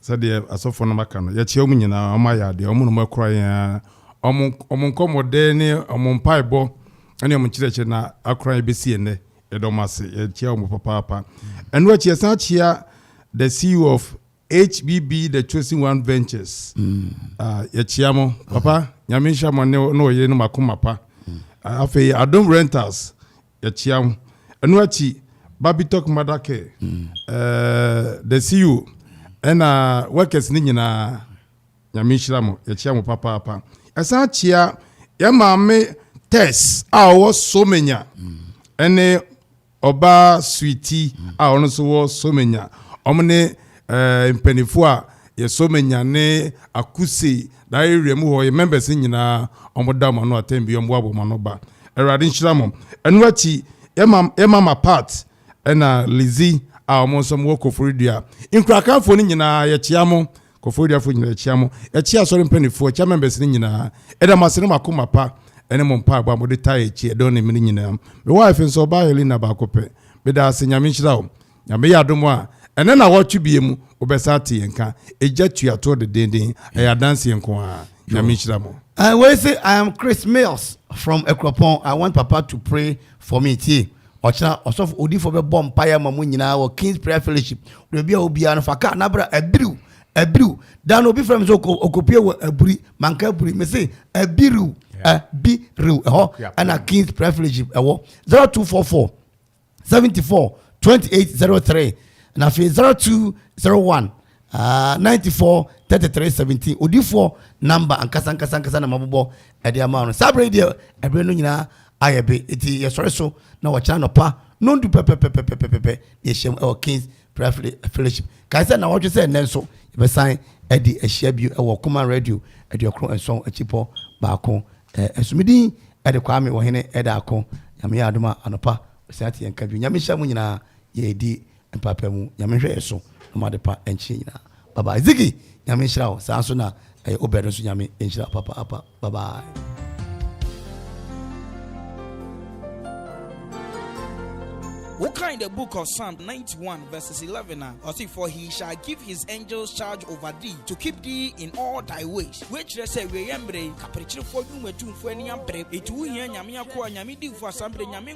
sɛdeɛ asɔfoɔ nom aka no. Yɛkyia wɔn nyinaa, wɔn ayɛ adeɛ, wɔn nom akura yɛn ara. Wɔn, wɔn nkɔmmɔdɛɛ ne wɔn mpaebɔ ne wɔn nkyerɛkyerɛ na akura yɛn bɛsi ɛnnɛ. Yɛda wɔn ase, yɛkyia wɔn papaapa. Ɛno akyi, yɛsan kyia the CEO of HBB The Chosen One Ventures. Ah, yɛkyea mo. Papa, Nyame nhyira mo ne ne ɔyere no mo akoma pa. Ah, Afei, Adom Rentals, yɛkyea mo. Ɛno akyi, Babitok Mother Care, eh, the CEO, ɛna workers no nyinaa, Nyame nhyira mo. Yɛkyea mo papaapa. Yɛsan kyea yɛn maame Tess a ɔwɔ Somenya ɛne Ɔbaa Suiti a ɔno nso wɔ Somenya, wɔn ne ɛɛ mpanimfoɔ a yɛ Somenya ne Akuse da area mu hɔ yɛ members nyinaa wɔn da wɔn ano atɛn bi wɔn boa wɔn ano ba. Awurade nhyira mo. Ɛno akyi yɛ ma yɛ mama part ɛna Lizzie a wɔn nso wɔ Koforidua. Nkurakanfoɔ no nyinaa yɛkyea mo Koforiafo nyinaa ɛkyia mo. Ɛkyia asɔre mpanyinfoɔ, ɛkyia members no nyinaa. Ɛda mo ase ne mo akoma pa ɛne mo mpaebɔ a mode taa ɛkyi ɛdɔn ne mmere nyinaa. Me wife nso ɔbaa Helena baako pɛ. Meda ase, Nyame nhyira wo. Nyame yɛ adom a, ɛnɛ nawɔtwe bie mu wobɛsan ate yɛn nka. Egya tua toɔ dedeenden, ɛyɛ adanseɛ nko ara. Nyame nhyira mo. Wei se I am Chris Mills from Akuropɔn I want papa to pray for me tie. Ɔkyena, ɔsɔfo odiyifoɔ bɛbɔ mpaeɛ ama mo nyinaa wɔ King's Prayer Fellowship. Wɔ baabi a wɔ biara no, fa kaa na bra abiriw, abiriw. Da no, obi frɛ me sɛ ɔkɔ- ɔkɔpue wɔ aburi, manka aburi, mese abiriw, abiriw. Ɛhɔ ɛna King's Prayer Fellowship ɛwɔ 0244 74 2803 na afei 0201 Ah, 94, 33, 17, odifoɔ namba ankasa ankasa ankasa na mabobɔ ɛde ama no. Saa berɛ yi deɛ, ɛberɛ no nyinaa ayɛ be, eti yɛsɔre so na wɔkyena nɔpa nondu pɛpɛpɛpɛpɛpɛpɛ na yɛhyɛm ɛwɔ Kings Prayer Fellowship. Kae sɛ nawɔtwe sɛ nnɛ nso yɛbɛsan ɛde ahyia bio ɛwɔ Koma Radio aduokron nson akyipɔ baako ɛso. Me din ɛde Kwame Wɔhene ɛda ako. Nyame yɛ adom a anɔpa ɔsɛ ate yɛn ka bio. Nyame hyɛ mo nyinaa yɛdi Mpaepa mu Nyame nhwɛ yɛ so na ɔma adepa nkyene nyinaa bye bye Ziggy Nyame nhyira wo saa nso na ɛyɛ Obed nso Nyame nhyira wo papaapa bye bye. Wokan the book of Psalm 91 verses 11 a ɔse for he shall give his angels charge over thee to keep thee in all thy ways. Woakyerɛ sɛ wieyɛ mmerɛ yi kaprekyerefo dwumadwumfo ani abere. Eti wohia Nyame akoa, Nyame difo asambre, Nyame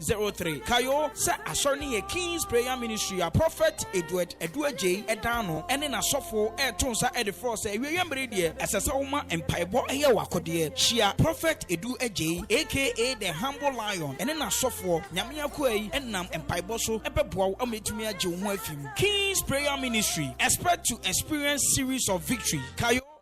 Zero three, Kae o sɛ Asɔre no yɛ King's Prayer Ministry a Prophet Edward Adu Agyei ɛdan ano ɛne n'asɔfo ɛɛto nsa ɛde frɛ wo sɛ awieɛ mmere deɛ ɛsɛ sɛ woma mpaebɔ ɛyɛ w'akodeɛ. Hyia Prophet Edu Agyei aka The Humble Lion ɛne n'asɔfoɔ Nyame akoa yi ɛnam mpaebɔ so ɛbɛboa wo ama atumi agye wo ho afi mu. King's Prayer Ministry, Expect to Experience Series of Victory, Kae o.